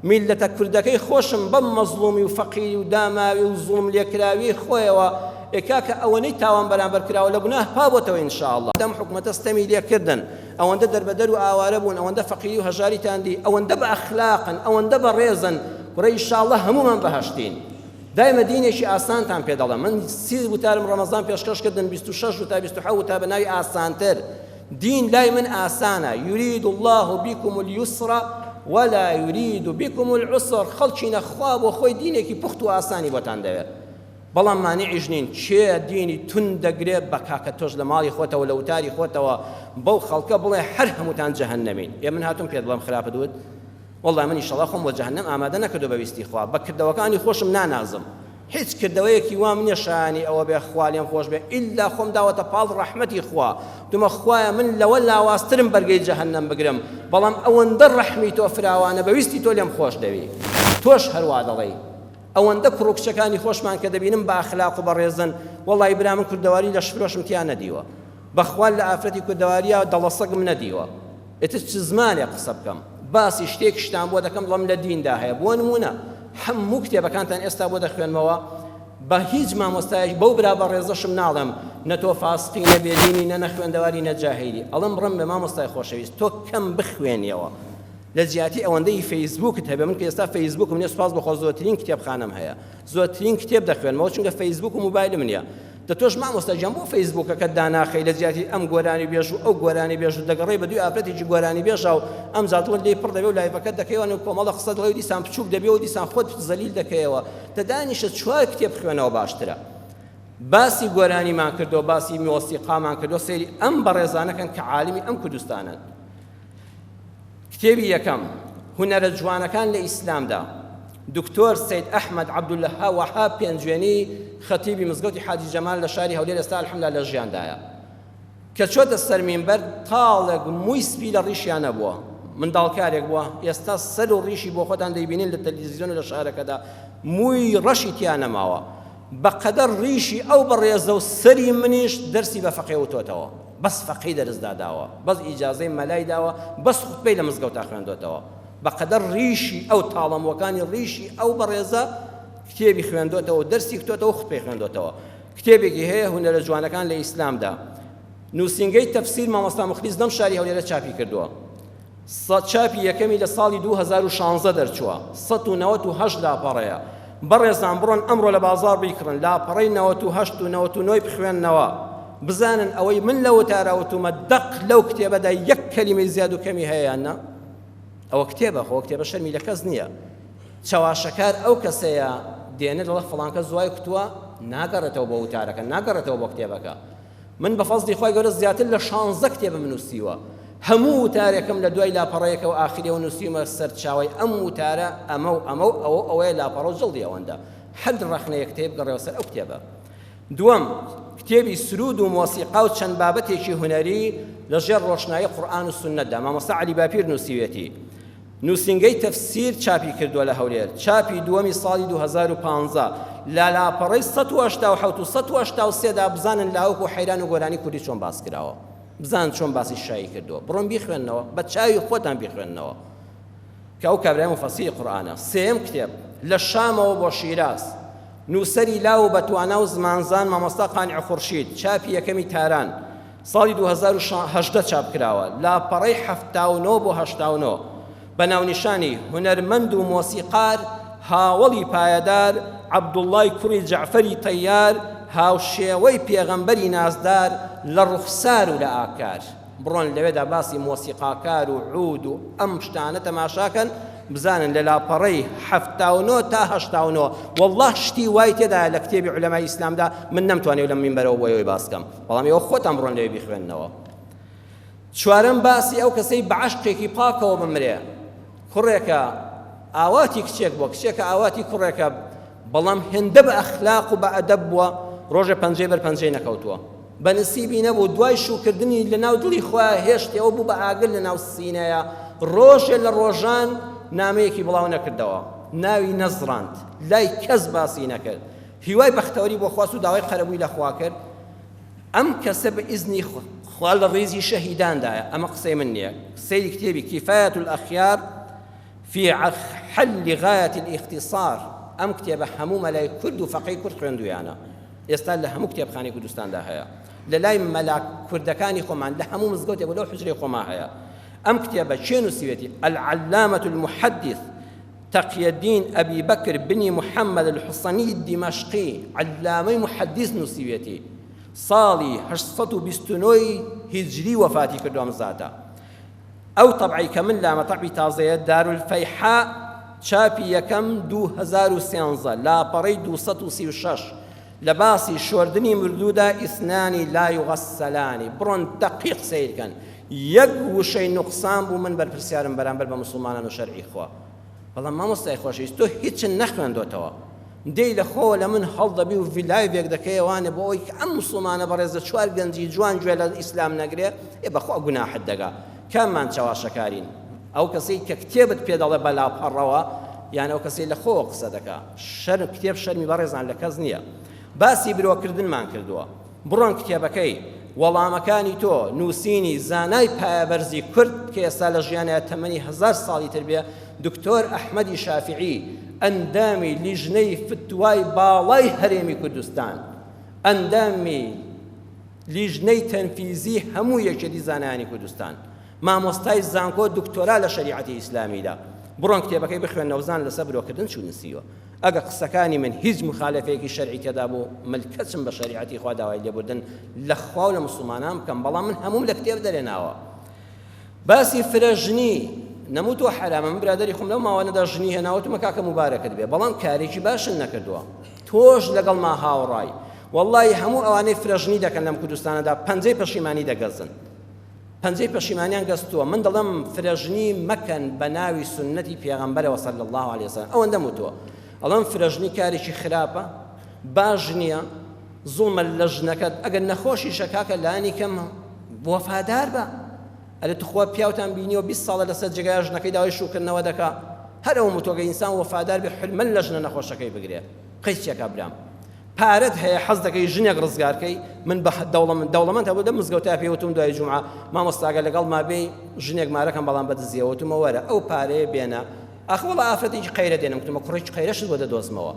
S1: میللەتە کوردەکەی خۆشم بەم مەزڵومی و فەقیری و داماوی و زوڵم لێکراویەی خۆیەوە ئێ کاکە ئەوەنەی تاوان بەرامبەر کراوە لە گوناه پابۆتەوە ان شاءاللە ئەم حکومەتە ستەمی لێکردن ئەوەندە دەربەدەر و ئاوارە بوون ئەوەندە فەقیری و هەژاریتان دی ئەوەندە بە ئەخلاقن ئەوەندە بە ڕێزن کورە ئیشاڵڵە هەموومان بەهەشتین دایمە دینێکی ئاسانتان پێ دەڵێم من سی وتارم ڕەمەزان پێشکەش کردن 26 وتا 27 وتا بە ناوی ئاسانتر دین لای من ئاسانە یورید الله بكم اليسر ولا يريد بكم العسر خەڵکی نەخوا بۆ خۆی دینێکی پوخت و ئاسانی بۆتان دەوێت بەڵام مانعیش نین کێ دینی توند دەگرێ بە کاکە تۆش لە ماڵی خۆتەوە لە وتاری خۆتەوە بەو خەڵکە بڵێ هەر هەمووتان جەهەنەمین ئێ من هاتووم پێت بڵێم خراپت وت والله من ئیشەڵا خۆم بۆ جەهەنەم ئامادە نەکردو بە ویستی خوا بە کردەوەکانی خۆشم نانازم هیچ کردەوەیەکی وام نییە شایانی ئەوە بێ خوا لێم خۆش بێ ئیلا خۆم داوەتە پاڵ ڕەحمەتی خوا دومە خوایە من لەوە لاوازترم بەرگەی جەهەنەم بگرم بەڵام ئەوەندە ڕەحمی تۆ فراوانە بەویستی تۆ لێم خۆش دەوی تۆش هەروا دەڵێی ئەوەندە کوڕ و کچەکانی خۆشمان کە دەبینم بە ئەخلاق و بەڕێزن وەڵای برا من کوردەواری لەش فرۆشم تیا نەدیوە بەخوا لە ئافرەتی کوردەواریا دەڵە سەگم نەدیوە ئیتر چ زمانێک قسە بکەم باسی شتێکشتان بۆ دەکەم بڵم لە دیندا هەیە بۆ نمونە هەموو کتێبەکانتان ئێستا بۆ دەخوێنمەوە بە هیچ مامۆستایش بەو برا بە ڕێزەشم ناڵێم نە تۆ فاسقی نە بێدینی نە نەخوێندەواری نە جاهیلی ئەڵم ڕم بە مامۆستای خۆشەویست تۆ کەم بخوێنیەوە لە جیاتی ئەوەندەی فەیسبووکت هەبێت من کە ئێستا فەیسبووکم نیە سوپاس بەخوا زۆرترین کتێبخانەم هەیە زۆرترین کتێب دەخوێنمەوە چونکە فەیسبووک و موبایلم نیە دە تۆش مامۆستا گیان بۆ فەیسبووکەکەت داناخەی لە جیاتی ئەم گۆرانی بێژ و ئەو گۆرانی بێژ و دەگەڕێی بە دوی ئافرەتێکی گۆرانی بێژا و ئەم زادڵت لێی پڕ دەبێ و لایڤەکەت دەکەیەوە نێو کۆمەڵە قسەت دڵێ و دیسان بچووک دەبێ و دیسان خۆت زەلیل دەکەیەوە دە دانیشە چوار کتێب خوێنەوە باشترە باسی گۆرانیمان کردو باسی مۆسیقامان کردو سەیری ئەم بەڕێزانەکەن کە عالمی ئەم کوردستانن کتێبی یەکەم، هونەرە جوانەکان لە ئیسلامدا، دکتۆر سەید ئەحمەد عەبدولوەهاب پێنجوێنی خەتیبی مزگەوتی حاجی جەمال لە شاری هەولێر ئێستا الحمدللە لە ژیاندایە کە چۆتە سەر مینبەر تاڵێک مووی سپی لە ڕیشیان نەبووە منداڵکارێک بووە ئێستا سەر و ڕیشی بۆ خۆتان دەیبینین لە تەلویزیۆن و لە شارەکەدا مووی ڕەشی تیا نەماوە بەقەدەر ڕیشی ئەو بەڕێزە و سەری منیش دەرسی بە فەقێ وتۆتەوە بەس فەقێی دەرس داداوە بەس ئیجازەی مەلای داوە بەس خوتبەی لە مزگەوتا خوێندۆتەوە بەقەدەر ڕیشی ئەو تاڵەموەکانی ڕیشی ئەو بەڕێزە کتێبی خوێندۆتەوە دەرسی کتۆتەوە خوتبەی خوێندۆتەوە کتێبێکی هەیە هونەرە جوانەکان لە ئیسلامدا نووسینگەی تەفسیر مامۆستا مخلیس لەم شاری هەولێرە چاپی کردووە سە چاپی یەکەمی لە ساڵی دوو هەزار و شانزە دەرچووە سەد و نەوەت و هەشت لاپەڕەیە بەڕێزان بڕۆن ئەمڕۆ لە بازاڕ بیکڕن لاپەڕەی نەوەت و هەشت و نەوەت و نۆی بخوێننەوە بزانن ئەوەی من لە وتارا وتوومە دەق لەو کتێبەدا یەک کەلیمەی زیاد و کەمی هەیە یان نا ئەوە کتێبە خۆ کتێبە شەرمی لە کەس نییە چەواشەکار ئەو کەسەیە دێنێ دەڵێ فڵانکە زوای کوتووە ناگەڕێتەوە بۆ وتارەکە ناگەڕێتەوە بۆ کتێبەکە من بە فەزڵی خوای گەورە زیاتر لە شانزدە کتێبم نووسیوە هەموو وتارێکم لە دوای لاپەڕەیەکەوە ئاخریەوە نووسیومە سەرچاوی ئەم وتارە ئەمە و ئەمە و ئەوە ئەوەیە لاپەڕە و جڵدی ئەوەندە هەر ڕەخنەیە کتێب گەڕێەوە سەر ئەو کتێبە دووەم کتێبی سرود و مۆسیقا و چەند بابەتێکی هونەری لەژێر ڕۆشنایی قورئان و سوننەتدا مامۆستا عەلی باپیر نووسیوێتی نووسینگەی تەفسیر چاپی کردووە لە هەولێر، چاپی دووەمی ساڵی دوو هەزار و پازدە، لە لاپەڕەی سەد و هەشتا و حەوت و سەد و هەشتا و سێ دا بزانن لاوک و حەیران و گۆرانی کوردی چۆن باس کراوە، بزانن چۆن باسی شایی کردووە، بڕۆن بیخوێننەوە، بە چاوی خۆتان بیخوێننەوە، کە ئەو کابرایە موفەسیری قورئانە. سێیەم کتێب، لە شامەوە بۆ شیراز، نووسەری لاو و بەتوانا و زمانزان مامۆستا قانع خورشید، چاپی یەکەمی تاران، ساڵی دوو هەزار و هەژدە چاپکراوە، لاپەڕەی حەفتا و نۆ بۆ هەشتا و نۆ، بە ناونیشانی، هونەرمەند و مۆسیقار هاوەڵی پایەدار، عەبدوڵڵای کوڕی جەعفەری تەیار، هاوشێوەی پێغەمبەری نازدار لە ڕوخسار و لە ئاکار. بڕۆن لەوێدا باسی مۆسیقاکار و عوود و ئەم شتانە تەماشا کەن، بزانن لە لاپەڕەی حەفتا و نۆ تا هەشتا و نۆ، وەڵڵا شتی وای تێدایە لە کتێبی عولەمای ئیسلامدا من نەمتوانی لەم مینبەرەوە بۆ ئێوەی باس کەم. بەڵام ئێوە خۆتان بڕۆن لەوێ بیخوێننەوە چوارەم باسی ئەو کەسەی بە عەشقێکی پاکەوە بمرێ کوڕێکە ئاواتی کچێک بووە کچێکە ئاواتی کوڕێکە بەڵام هێندە بە ئەخلاق و بە ئەدەب بووە ڕۆژە پەنجەی بەر پەنجەی نەکەوتووە بە نسیبی نەبوو دوای شوکردنی لە ناو دڵی خوا هێشتەوە بوو بە ئاگر لە ناو سینەیە ڕۆژێ لە ڕۆژان نامەیەکی بڵاو نەکردەوە ناوی نەزڕاند لای کەس باسی نەکرد هیوای بەختەوەری بۆ خواست و داوای قەرەبووی لە خوا کرد، ئەم کەسە بە ئیزنی خوا لە ڕیزی شەهیداندایە، ئەمە قسەی من نییە، سەیری کتێبی کفایەت الاخیار فی حل غایەت الاختصار، ئەم کتێبە هەموو مەلای کورد و فەقێی کورد خوێندوویانە، ئێستا لە هەموو کتێبخانەی کوردستاندا هەیە، لە لای مەلا کوردەکانی خۆمان لە هەموو مزگەوتێک و لەو حوجرەی خۆمان هەیە، ئەم کتێبە کێ نووسیوێتی، العلامە المحدث، تەقیەدین ئەبی بەکر بنی محەمەد الحسنی دیمەشقی عەللامەی موحەدیس نووسیویەتی، ساڵی هەشت سەد و بیست و نۆ ی هیجری وەفاتی کردووە ئەم زاتە. ئەو تەبعەی کە من لامە تەبعی تازەیە، دارولفەیحاء، چاپی یەکەم دوو هەزار و سێزدە، لاپەڕەی دوو سەد و سی و شەش، لە باسی شۆردنی مردوودا، اثنان لا یغسلان، بڕۆن دەقیق سەیرکەن، یەک وشەی نوقسان بوو من بەرپرسیارم بەرامبەر بە موسڵمانان و شەرعی خوا بەڵام مامۆستای خۆشەویست تۆ هیچت نەخوێندۆتەوە دێی لە خۆوە لە من هەڵدەبی و ڤیلایڤێک دەکەیە وانە بۆ ئەوەی کە ئەم موسڵمانە بەڕێزە چوار گەنجی جوان گوێ لە ئیسلام نەگرێ ئێ بەخوا گوناحت دەگا کاممان چەواشەکارین ئەو کەسەی کە کتێبت پێ دەڵێ بە لاپەڕەوە یان ئەو کەسەی لە خۆوە قسە دەکا شەرم کتێب شەرمی بەڕێزان لە کەس نییە باسی برۆکردنمان کردووە بڕۆن کتێبەکەی، وەڵامەکانی تۆ، نووسینی، زانای پایەبەرزی کورد کە ئێستا لە ژیانە تەمەنی هەزار ساڵی تر بێ، دکتۆر ئەحمەدی شافیعی، ئەندامی لیژنەی فتوای باڵای هەرێمی کوردستان، ئەندامی لیژنەی تەنفیزی هەموو یەکێتی زانایانی کوردستان، مامۆستای زانکۆ دکتۆرا لە شەریعەتی ئیسلامیدا، بڕۆن کتێبەکەی بخوێنەوەزان لەسەر برۆکردن چ نووسیوە. ئەگەر قسەکانی من هیچ موخالەفەیەکی شەرعی تێدا بوو مل کەچم بە شەریعەتی خوا داوای لێبوردن لە خوا و لە موسڵمانان بکەم بەڵام من هەمووم لە کتێب دەرێناوە باسی فرە ژنی نەموو تۆ حرامە من برادری خۆم لەو ماوانەدا ژنی هێناوەتمە کاکە مبارەکت بێ بەڵام کارێکی باشن نەکردووە تۆش لەگەڵ ما هاوڕای واللهی هەموو ئەوانەی فرەژنی دەکەن لەم کوردستانەدا پەنجەی پەشیمانی دەگەزن پەنجەی پەشیمانیان گەستووە من دەڵێم فرەژنی مەکەن بە ناوی سوننەتی پێغەمبەرەوە صلی اللە علیە وسلم ئەوەندەم وتووە ئەڵێم فرەژنی کارێکی خراپە باش نییە زوڵمە لە ژنەکەت ئەگەر نەخۆشیشە کاکە لانی کەم وەفادار بە ئەرێ تخوا پیاوتان بینیەوە 20 ساڵە لەسەر جێگای ژنەکەی داوای شوکردنەوە دەکا هەر ئەو متۆگە ئینسان وەفادار بە حلمەن لە ژنە نەخۆشەکەی بگرێت قەیسیەکە برام پارەت هەیە حەز دەکەی ژنێک ڕزگار کەی من بە دەوڵەمەند دەوڵەمەند هەبوو لەم مزگەوتە پێ وتم دوای جومعە مامۆستاگە لەگەڵما بێی ژنێک مارەکەم بەڵام بەدزیەوە وتمە وەرە ئەو پارەیە بێنە ئەخ وەڵا ئافرەتێکی قەیرە دێنم وتمە کوڕێکی قەیرەشت بۆ دەدۆزمەوە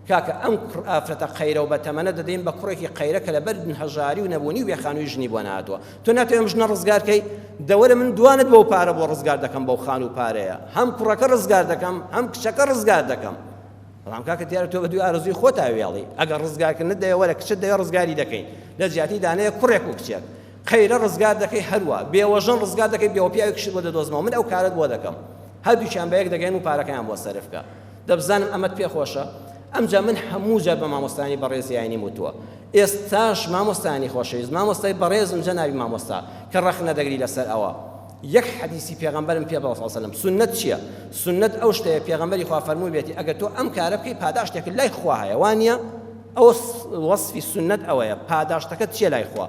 S1: کاکە ئەم کوڕ ئافرەتە قەیرە و بەتەمەنە دەدەین بە کوڕێکی قەیرە کە لەبەر هەژاری و نەبوونی و بێخانووی ژنی بۆ نهاتووە تۆ ناتوانم ژنە ڕزگارکەی دەوەرە من دوانت بۆ پارە بۆ ڕزگار دەکەم بەو خان و پارەیە هەم کوڕەکە ڕزگار دەکەم هەم کچەکە ڕزگار دەکەم بەڵام کاکە دیارە تۆ بەدوی ئارزوی خۆتا وێڵی ئەگەر ڕزگارکردنت دەوێ وەرە کچت دەوێ ڕزگاری دەکەین لە جیاتی دانەیە کوڕێک و کچێک قەیرە ڕزگار دەکەی هەروە بێوەژن ڕزگار دەکەی بێوە پیاوی کشت بۆ دەدۆزمەوە من ئەو کارت بۆ دەکەم هەردووچیان بە یەک دەگەین و پارەکەیان بۆ سەرفکە دەبزانم ئەمەت پێ خۆشە ئەمجا من هەموو جار بە مامۆستانی بەڕێزیانی وتووە ئێستاش مامۆستانی خۆشەویست مامۆستای بەڕێزم جەناوی مامۆستا کە ڕەخنە دەگری لەسەر ئەوە یەک حەدیسی پێغەمبەرم پێ بڵێ صلی اللە وسلم سوننەت چیە؟ سوننەت ئەو شتەیە پێغەمبەری خوا فەرموویبێتی ئەگەر تۆ ئەم کارە بکەی پاداشتێکت لای خوا هەیە وانیە؟ ئەوە وەسفی سوننەت ئەوەیە پاداشتەکەت چیە لای خوا؟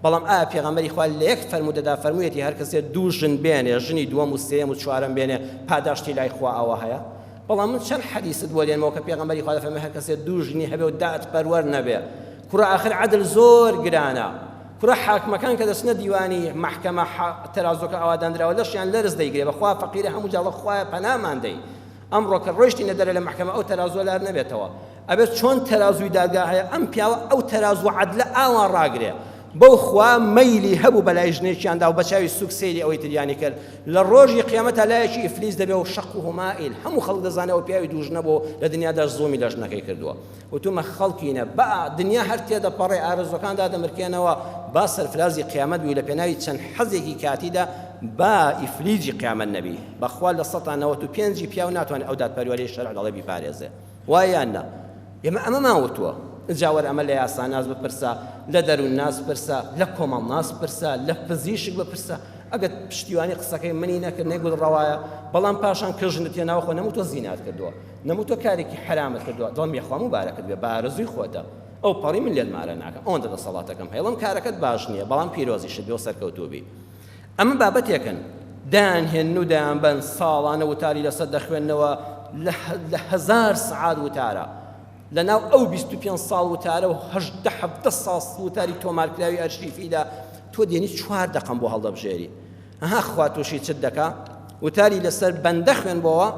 S1: بەڵام ئایا پێغەمبەری خوا لە یەک فەرموودەدا فەرموویەتی هەر کەسێ دوو ژن بێنێ ژنی دووەم و سێیەم و چوارەم بێنێ پاداشتی لای خوا ئەوە هەیە؟ بەڵام من چەند حەدیست بۆ دێنمەوە کە پێغەمبەری خوا دەفەرمێ هەر کەسێ دوو ژنی هەبێ و دادپەروەر نەبێ کوڕە ئاخر عەدل زۆر گرانە کورە حاکمەکان کە دەچنە دیوانی مەحکەمە حە تەرازۆکە ئاوا داندراوە لەشیان لەرز دەیگرێ بەخوا فەقیرە هەموو جاڵە خوایە پەنامان دەی ئەمڕۆ کە ڕۆیشتینە دەرە لە مەحکەمە ئەو تەرازوە لار نەبێتەوە ئەبێت چۆن تەرازوی دادگا هەیە ئەم پیاوە ئەو تەراز و عەدلە ئاوا ڕاگرێ بەو خوا مەیلی هەبوو بەلای ژنێکیاندا و بەچاوی سوک سەیری ئەوەی تریانی کرد لە ڕۆژی قیامەتا لایەکی ئیفلیس دەبێ و شەق و هەمائیل هەموو خەڵک دەزانێەوە پیاوی دوو ژنە بۆ لە دنیادا زڵمی لە ژنەکەی کردووە وتومە خەڵکینە بئ دنیا هەر تێدەپەڕێ ئارەزوەکان دادەمرکێنەوە با سەرفرازی قیامەت بوی لەپێناوی چەند حەزێکی کاتیدا با ئیفلیجی قیامەت نەبی بەخوا لە سەتا نەوەت و پێنجی پیاو ناتوانێ ئەو دادپەروەریەی شەرع دەڵێ بیپارێزێ وایە یان نا ئێمە ئەمەمان وتووە جا وەر ئەمە لە یاساناس بپرسە لە دەروونناس پرسە لە کۆمەڵناس پرسە لە پزیشک بپرسە ئەگەر پشتیوانی قسەکەی منی نەکرد نەیگوت ڕەوایە بەڵام پاشان کە ژنت هێناوە خۆ نەموتوە زینات کردووە نەموو تۆ کارێکی حەرامت کردووە دڵم یەخوا موبارەکت بێ بارزووی خۆتە ئەو پەڕی من لێت مارە ناکەم ئەوەندە دەسەڵاتەکەم هەیڵم کارەکەت باش نییە بەڵام پیرۆزیشت بێ و سەرکەوتوبی ئەمە بابەتێکن دایان هێن و دایان بەن ساڵانە وتاری لەسەر دەخوێندنەوە لە هزار سعات وتارە لە ناو ئەو 25 ساڵ وتارە و هەشدە حەفتە ساڵ وتاری تۆمارکراوی ئەرشیفیدا تۆ دێنی چوار دەقم بۆ هەڵدەبژێری ئەها خوا توشی چت دەکا وتاری لەسەر بەندە خوێنبەوە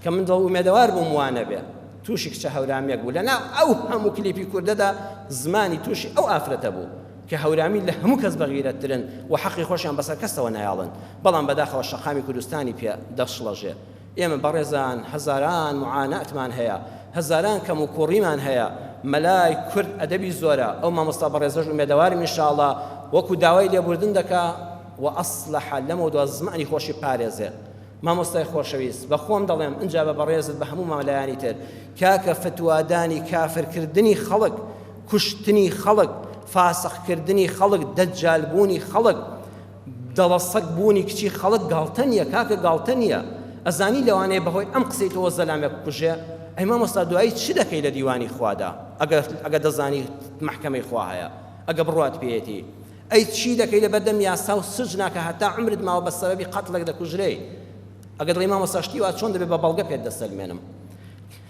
S1: کە من دڵ ئومێدەوار بووم وانەبێ توشی کچە هەورامێک بوو لەنا ئەو هەموو کلیپی کوردەدا زمانی توشی ئەو ئافرەتە بوو کە هەورامی لە هەموو کەس بەغیرەتترن و حەقی خۆشیان بەسەر کەسەوە نایاڵن بەڵام بەداخەوە شەقامی کوردستانی پێ دەشڵەژێ ئێمە بەڕێزان هەزاران معاناتمان هەیە هەزاران کەم و کوڕیمان هەیە مەلای کورد ئەدەبی زۆرە ئەو مامۆستا بەڕێزەش ئومێدەوارم ان شاء اللە وەکو داوای لێبوردن دەکا وە ئەسلەح لەمەو دوا زمانی خۆشی پارێزێت مامۆستای خۆشەویست بە خۆم دەڵێم ئنجا بە بەڕێزت بە هەموو مەلایانی تر کاکە فتوادانی کافر کردنی خەڵک کوشتنی خەڵک فاسق کردنی خەڵک دەجال بوونی خەڵک دەڵە سەگ بوونی کچی خەڵک گاڵتە نیە کاکە گاڵتە نیە ئەزانی لەوانەیە بەهۆی ئەم قسەی تۆوە زەلامێک بکوژێ ئەی مامۆستا دوایی چ دەکەی لە دیوانی خوادا ئەگەر ئەگەر دەزانی مەحکەمەی خوا هەیە ئەگە بڕوات پێیەتی ئەی چی دەکەی لە بەردەم یاسا و سجنا کە هەتا عمرت ماوە بە سەبەبی قەتڵێک دەکوژرێی ئەگەر دڵی مامۆستا شتی وا چۆن دەبێ بە بەڵگە پێت دەسەلمێنم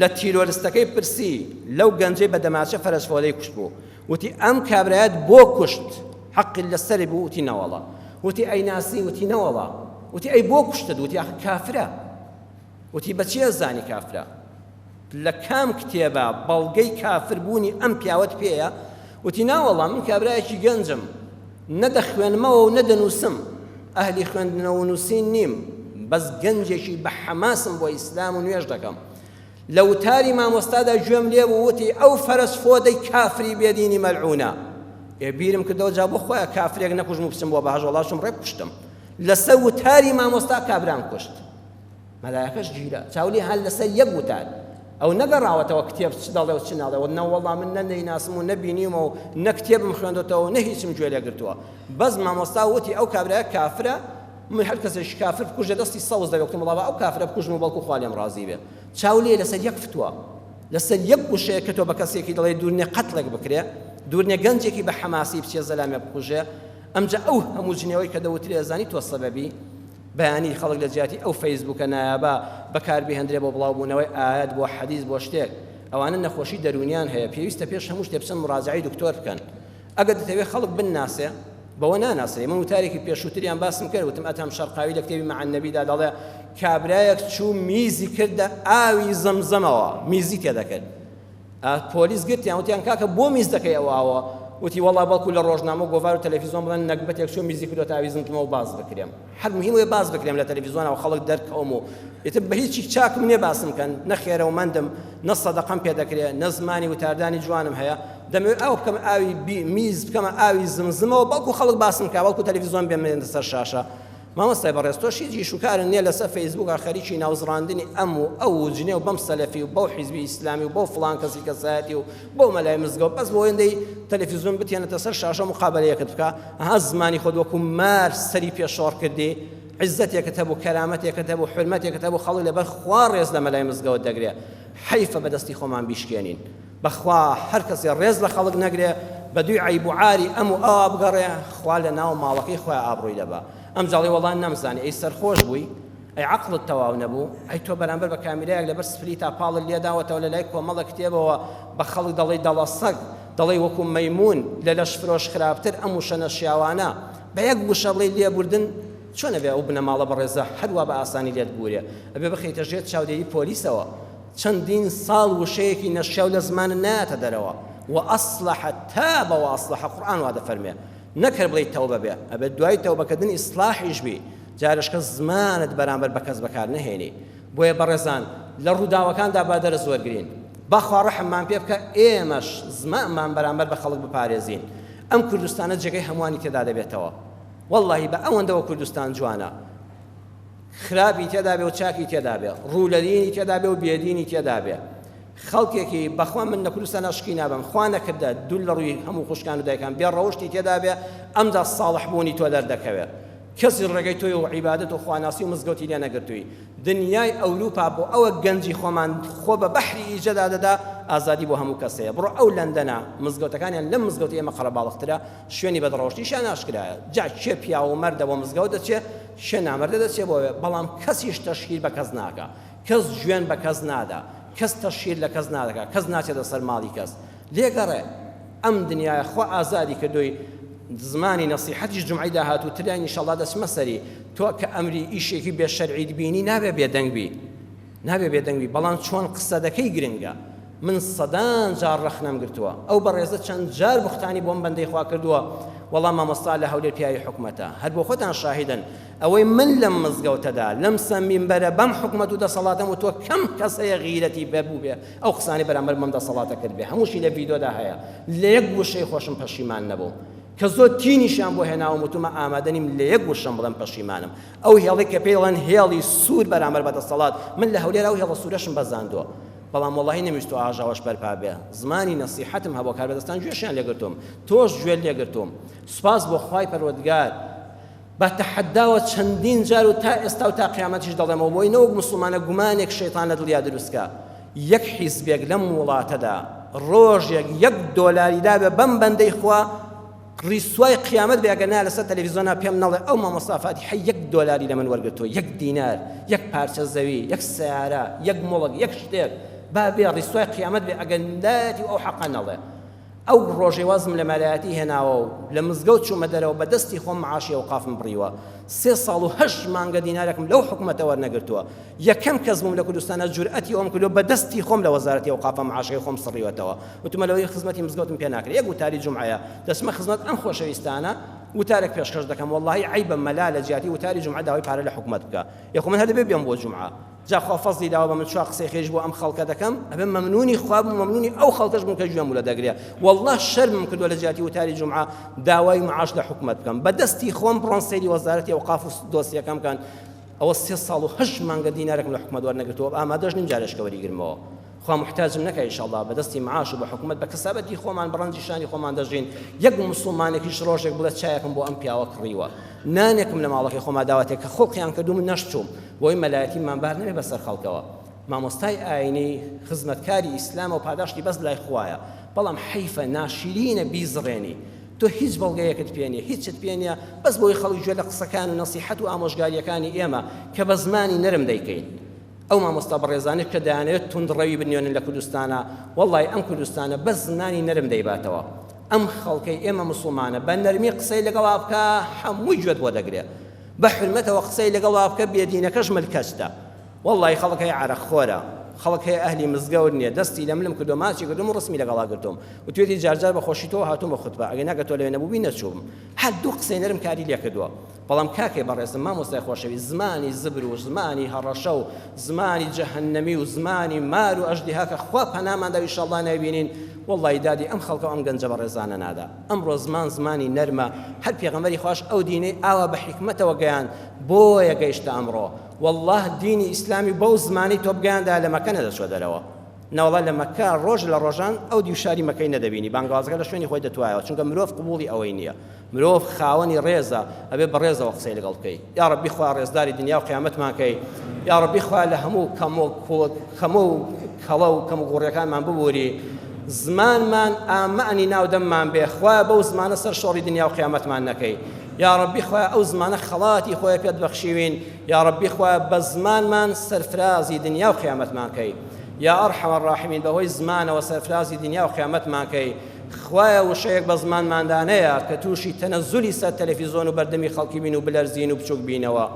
S1: لە تیرۆرستەکەی پرسی لەو گەنجەی بە دەماچە فەرەجفۆلەی کوشتبوو وتی ئەم کابرایەت بۆ کوشت حەقی لە سەری بوو وتی نەوەڵا وتی ئەی ناسی وتی نەوەڵا وتی ئەی بۆ کوشتت وتی ئەخ کافرە وتی بەچی ئەزانی کافرە لە کام کتێبە بەڵگەی کافربوونی ئەم پیاوەت پێیە وتی ناوەڵا من کابرایەکی گەنجم نە دەخوێنمەوە و نە دەنووسم، ئەهلی خوێندنەوە و نووسین نیم، بەس گەنجێکی بە حەماسم بۆ ئیسلام و نوێژ دەکەم. لە وتاری مامۆستادا گوێم لێ بوو وتی، ئەو فەرەس فۆدەی کافری بێ دینی مەلعوونە. ئێ بیرم کردەوە جا بۆ خۆیان کافرێک نەکوژم و بچم بۆ بەهەشت وەڵا چووم ڕێک کوشتم. لەسەر وتاری مامۆستا کابرام کوشت. مەلایەکەش گیرا چاو لێ هەر لەسەر یەک وتار ئەو نەگەڕاوەتەوە کتێب چ دەڵێ و چ ناڵێ و نەوەڵا من نە دەیناسم و نەبینیومە و نە کتێبم خوێندۆتەوە نە هیچم گوێ لێ گرتووە بەس مامۆستا وتی ئەو کابرایە کافرە من هەر کەسێکی کافر بکوژە دەستی سەوز دەبێت وتم وڵا ئەو کافرە بکوژم و بەڵکو خوا لێم ڕازی بێ چاو لێ لەسەر یەک فتووە لەسەر یەک وشەیە کە تۆ بە کەسێکی دەڵێ دوورنێ قەتڵێک بکرێ دوورنێ گەنجێکی بە حەماسی بچێ زەلامێ بکوژێ ئەمجا ئەو هەموو جنێوەی کە دەوترێ زانی تۆ سەبەبی بەیانی خەڵک لە جیاتی ئەو فەیسبووکە نایابە بەکار بیهندرێ بۆ بڵاو بوونەوەی ئایەت بۆ حەدیس بۆ شتێک ئەوانە نەخۆشی دەروونیان هەیە پێویستە پێش هەموو شتێ بچن مڕاجەعەی دکتۆر بکەن ئەگەر دەتەوێ خەڵک بنناسێ بەوە ناناسرێ من وتارێکی پێشووتریان باسم کرد وتم ئەتەم شەرقاوی لە کتێبی مع النبیدا دەڵێ کابرایەک چوو میزی کردە ئاوی زەمزەمەوە میزی تێدەکرد ئا پۆلیس گرتیان وتیان کاکە بۆ میز دەکەی ئەوە ئەوە وتی وەڵا بەڵکو لە ڕۆژنامە گۆڤار و تەلەفیزۆن بڵێن نەگبەتێک چۆ میزی کردو تا ویزمتمەوە باز بکرێم هەر مهم وێ باز بکرێم لە تەلەفیزۆنەوە خەڵک دەرکەوم و ئیتر بە هیچی چاکم نییە باسم کەن نە خێرەومەندم نە سەدەقەم پێ دەکرێ نە زمانی وتاردانی جوانم هەیە دەمەوێت ئاو بکەم ئاوی میز بکەمە ئاوی زمزمەوە بەڵکو خەڵک باسم کا بەڵکو تەلەفیزۆن بێمێنە سەر شاشە مامۆستای بەڕێز تۆش هیچ ئیش و کارت نیە لەسەر فەیسبووکا خەریکی ناوزڕاندنی ئەم و ئەو و جنێو بەم سەلەفی و بەو حیزبی ئیسلامی و بەو فڵان کەسی کەسایەتی و بەو مەلای مزگەوت بەس بۆ ئەوەندەی تەلەفیزۆن بتهێنێتە سەر شاشە موقابەلەیەکت بکا ئەها زمانی خۆت وەکو مار سەری پێ شۆڕ کردی عزتێکت هەبوو کەرامەتێکت هەبوو حرمەتێکت هەبوو خەڵک لەبەر خوا ڕێز لە مەلای مزگەوت دەگرێ حەیفە بەدەستی خۆمان بیشکێنین بەخوا هەر کەسێ ڕێز لە خەڵک نەگرێ بەدووی عەیب و عاری ئەم و ئەوا بگەڕێ خوا لە ناو ماڵەکەی خۆیا ئابڕووی لەبا ئەم جاڵی وەڵا نەمزانی ئەی سەرخۆش بووی ئەی عەقڵت تەواو نەبوو ئەی تۆ بەرامبەر بە کامیرایەک لەبەر سپلیتا پاڵت لێداوەتەوە لە لای کۆمەڵە کتێبەوە بە خەڵک دەڵێی دەڵە سەگ دەڵێی وەکو مەیمون لە لەش فرۆش خراپتر ئەم وشە نەشیاوانە بە یەک وشە بڵێی لێبوردن چۆنە بێ ئەو بنەماڵە بەڕێزە هەروا بە ئاسانی لێت بوورێ ئەبێ بخەیتە ژێر چاودێری پۆلیسەوە چەندین ساڵ وشەیەکی نەشیاو لە زمانت نایەتە دەرەوە و اصلح تاب واصلح قورئان وا دەفەرموێ نەک هەر بڵێی تەوبە بێ ئەبێ دوای تەوبەکردن ئیسڵاحیش بی جارش کە زمانت بەرامبەر بە کەس بەکار نەهێنی بۆیە بەڕێزان لە ڕووداوەکاندا با دەرس وەرگرین بەخوا ڕەحممان پێ بکە ئێمەش زمانمان بەرامبەر بە خەڵک بپارێزین ئەم کوردستانە جێگەی هەمووانی تێدا دەبێتەوە واللهی بە ئەوەندەوە کوردستان جوانە خراپی تێدا بێ و چاکی تێدا بێ، ڕوو لە دینی تێدا بێ و بێ دینی تێدا بێ، خەڵکێکی بەخوا من لە کوردستان ئەشقی نابەم، خوا نەکردە دوور لە ڕووی هەموو خوشکان و دایکان بێ ڕەوشتی تێدا بێ، ئەمجا ساڵح بوونی تۆ دەردەکەوێ. کەسی ڕێگەی تۆی و عیبادەت و خواناسی و مزگەوتی لێ نەگرتووی. دنیای ئەوروپا بۆ ئەوە گەنجی خۆمان خۆ بە بەحری ئیجەدا دەدا، ئازادی بۆ هەموو کەس هەیە. بڕۆ ئەو لەندەنە، مزگەوتەکانیان لەم مزگەوتی ئێمە قەرەباڵغترە، شوێنی بەدڕەوشتیشیان ئاشکرایە. جا کێ پیاو و مەردە بۆ مزگەوت دەچێ؟ کێ نامەردە دەچێ بۆ ئەوێ بەڵام کەسیش تەشهیر بە کەس ناکا کەس جوێن بە کەس نادا کەس تەشهیر لە کەس نادەکا کەس ناچێتە سەر ماڵی کەس لێ گەڕێ ئەم دنیایە خوا ئازادی کردووی زمانی نەسیحەتیش جومعەی داهاتوو تریان ئیشەڵا دەچمە سەری تۆ کە ئەمری ئیشێکی بێ شەرعیت بینی نابێ بێدەنگ بی. نابێ بێدەنگ بی بەڵام چۆن قسە دەکەی گرنگە من سەدان جار ڕەخنەم گرتوە ئەو بەڕێزە چەند جار بوختانی بۆم بەندەی خوا کردوە وەڵا مامۆستا لە هەولێر پیاوی حکومەتە هەر بۆ خۆتان شاهیدن ئەوەی من لەم مزگەوتەدا لەم سە مینبەرە بەم حکومەت و دەسەڵاتەم وتوە کەم کەس هەیە غیرەتی بە بوبێ ئەو قسانەی بەرامبەر بەم دەسەڵاتە کردبێ هەمووشی لە ڤیدۆدا هەیە لە یەک وشەی خۆشم پەشیمان نەبووم کە زۆر تینیشیان بۆ هێناوم وتومە ئامادە نیم لە یەک وشەم بڵێم پەشیمانم ئەو هێڵەی کە پێی دەڵێن هێڵی سوور بەرامبەر بە دەسەڵات، من لە هەولێر ئەو هێڵە سوورەشم بەزاندووە، بەڵام وەڵاهی نەمویستووە ئاژاوەش بەرپا بێ، زمانی نەسیحەتم هەبووە، کاربەدەستان گوێشیان لێ گرتووم، تۆش گوێت لێ گرتووم، سوپاس بۆ خوای پەروەردگار، بە تەحەداوە چەندین جار و تا ئێستا و تا قیامەتیش دەڵێمەوە، بۆی نەوەک موسڵمانە گومانێک شەیتان لە دڵیا دروستکا، یەک حیزبێک لەم وڵاتەدا ڕۆژێک یەک دۆلاری دابێ بەم بەندەی خوا، ڕیسوای قیامەت بێ ئەگەر نا لەسەر تەلەفیزۆنا پێم نەڵێ ئەو مامۆستا فاتیحەی یەک دۆلاری لەمن وەرگرتووە یەک دینار یەک پارچە زەوی یەک سەیارە یەک موڵک یەک شتێک با بێ ڕیسوای قیامەت بێ ئەگەر لایەتی و ئەو حەقە نەڵێ ئەو ڕۆژەی وازم لە مەلایەتی هێناوە و لە مزگەوت چوومە دەرەوە بە دەستی خۆم معاشی ئەوقافم بڕیوە سێ ساڵ و هەشت مانگە دینارێکم لەو حکوومەتە وەرنەگرتووە یەکەم کەس بووم لە کوردستانە جورئەتی ئەوم کردووە بە دەستی خۆم لە وەزارەتی ئەوقافە معاشەکەی خۆم سڕیوەتەوە وتمە لەوەی خزمەتی مزگەوتم پێ ناکرێ یەک وتاری جومعەیە دەچمە خزمەت ئەم خۆشەویستانە وتارێک پێشکەش دەکەم وەڵاهی عەیبە مەلا لە جیاتی وتاری جومعە داوای پارە لە حکومەت بکا ئێ خۆ من هەر دەبێ بێم بۆ جومعە جا خوا فەزلی داوە بە من چوار قسەی خێریش بۆ ئەم خەڵکە دەکەم ئەبێ مەمنونی خوا بم مەمنونی ئەو خەڵکەش بم کە گوێم ولە دەگرێ وەڵڵا شەرمم کردووە لە جیاتی وتاری جومعە داوای معاش لە حکومەت بکەم بە دەستی خۆم بڕۆن سەیری وەزارەتی ئەوقاف و دۆسیەکەم بکەن ئەوە سێ ساڵ و هەشت مانگە دینارێکم لە حکومەت وەرنەگرتووە ئامادەش نیم جارێشکە وەریگرمەوە خوا موحتاجم نەکا ئیشەڵا بە دەستی معاش و بە حکومەت بە کەسابەتی خۆمان بە ڕەنجی شانی خۆمان دەژین یەک موسڵمانێکیش ڕۆژێک بڵێ چایەکم بۆ ئەم پیاوە کڕیوە نانێکم لە ماڵەکەی خۆما داواتێک کە خۆڵقیان کردو من نەشچووم بۆی مەلایەتی من بار نەبێ بەسەر خەڵکەوە مامۆستای ئاینی خزمەتکاری ئیسلامە و پاداشتی بەس لای خوایە بەڵام حەیفە ناشرینە بیزڕێنی تۆ هیچ بەڵگەیەکت پێ نیە هیچت پێ نیە بەس بۆی خەڵک گوێ لە قسەکان و نەسیحەت و ئامۆژگاریەکانی ئێمە کە بە زمانی نەرم دەیکەین ئەو مامۆستا بەڕێزانە کە دەیانەوێت توندڕەوی بنوێنن لە کوردستانە وەڵی ئەم کوردستانە بە زمانی نەرم دەیباتەوە ئەم خەڵکەی ئێمە مسلمانە بە نەرمی قسەی لەگەڵا بکە هەمووی گوێت بۆ دەگرێت بە حرمەتەوە قسەی لەگەڵا بکە بێدینەکەش ملکەچتە وەڵڵایی خەڵک هەیە عەرەق خۆرە خەڵک هەیە ئەهلی مزگەوت نیە دەستی لە ملم کردوە ماچی کردوم و ڕسمی لەگەڵا گرتوم وتوێتی جار جار بە خۆشی تۆوە هاتومە خوتبە ئەگەر نا کە تۆ لەوێ نەبوبی نەچوبم هەر دوو قسەی نەرم کاری لێ کردوە بەڵام کاکەی بەڕێزم مامۆستای خۆشەویست زمانی زبر و زمانی هەڕەشە و زمانی جەهەنەمی و زمانی مار و ئەژدیها کە خوا پەنامان دا و ئیشەڵڵا نایبینین وەڵڵایی دادی ئەم خەڵکە و ئەم گەنجە بەڕێزانە نادا ئەمڕۆ زمان زمانی نەرمە هەر پێغەمبەری خواش ئەو دینەی ئاوا بە حیکمەتەوە گەیاند بۆیە گەیشتە ئەمڕۆ وەڵڵا دینی ئیسلامی بەو زمانەی تۆ بگەیاندایە لە مەکە نەدەچووە دەرەوە نەوەڵا لە مەکە ڕۆژ لە ڕۆژان ئەو دیو شاری مەکەی نەدەبینی بانگەوازەکە لە شوێنی خۆی دەتوایەوە چونکە مرۆڤ قبوڵی ئەوەی نییە مرۆڤ خاوەنی ڕێزە ئەبێ بە ڕێزەوە قسەی لەگەڵ بکەی یا ڕەبی خوا ڕێزداری دنیا و قیامەتمان کەی یا ڕەبی خوا لە هەموو کەمۆ کەمە و کەڵە و کەم و گوڕیەکانمان ببووری زمانمان ئامانی ناو دەممان بێ خوا بەو زمانە سەر شۆڕی دنیا و قیامەتمان نەکەی یاڕەبی خوایە ئەو زمانە خەڵاتی خۆی پێت بەخشیوین یاڕەبی خوایە بە زمانمان سەرفرازی دنیاو قیامەتمان کەی یائەڕحەم الراحمین بەهۆی زمانەوە سەرفرازی دنیاو قیامەتمان کەی خوایە وشەیەک بە زمانماندا نەیە کە تووشی تەنەزولی سەر تەلەفیزۆن و بەردەمی خەڵکی بین و بلەرزین و بچوک بینەوە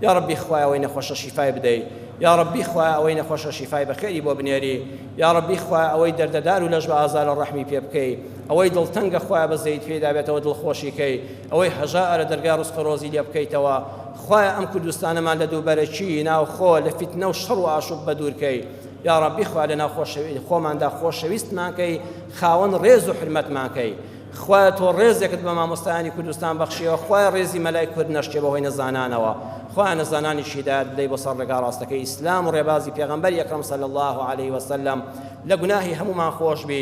S1: یاڕەبی خوایە ئەوەی نەخۆشە شیفای بدەی یاڕەبی خوایە ئەوەی نەخۆشە شیفای بەخێری بۆ بنێری یاڕەبی خوایە ئەوەی دەردەدار و لەش بە ئازارە ڕەحمی پێ بکەی ئەوەی دڵتەنگە خوایە بەزەیت پێدا بێتەوە دڵخۆشی کەی ئەوەی هەژا ئەرە دەرگای ڕزقو ڕۆزی لێ بکەیتەوە خوایە ئەم کوردستانەمان لە دووبەرەکی ناوخۆ لە فیتنە و شەڕ و ئاشوب بەدوور کەی یاڕەبی خوا لەناو خۆشەوی خۆماندا خۆشەویستمان کەی خاوەن ڕێز و حرمەتمان کەی خوایە تۆ ڕێزێکت بە مامۆستایانی کوردستان بەخشیەوە خوایە ڕێزی مەلای کورد نەشکێ بەهۆی نەزانانەوە خوایە نەزانانی شیدایەت بدەی بۆ سەر ڕێگا ڕاستەکەی ئیسلام و ڕێبازی پێغەمبەر یەکەم صلی الله علیه وسلم لە گوناهی هەمومان خۆش بی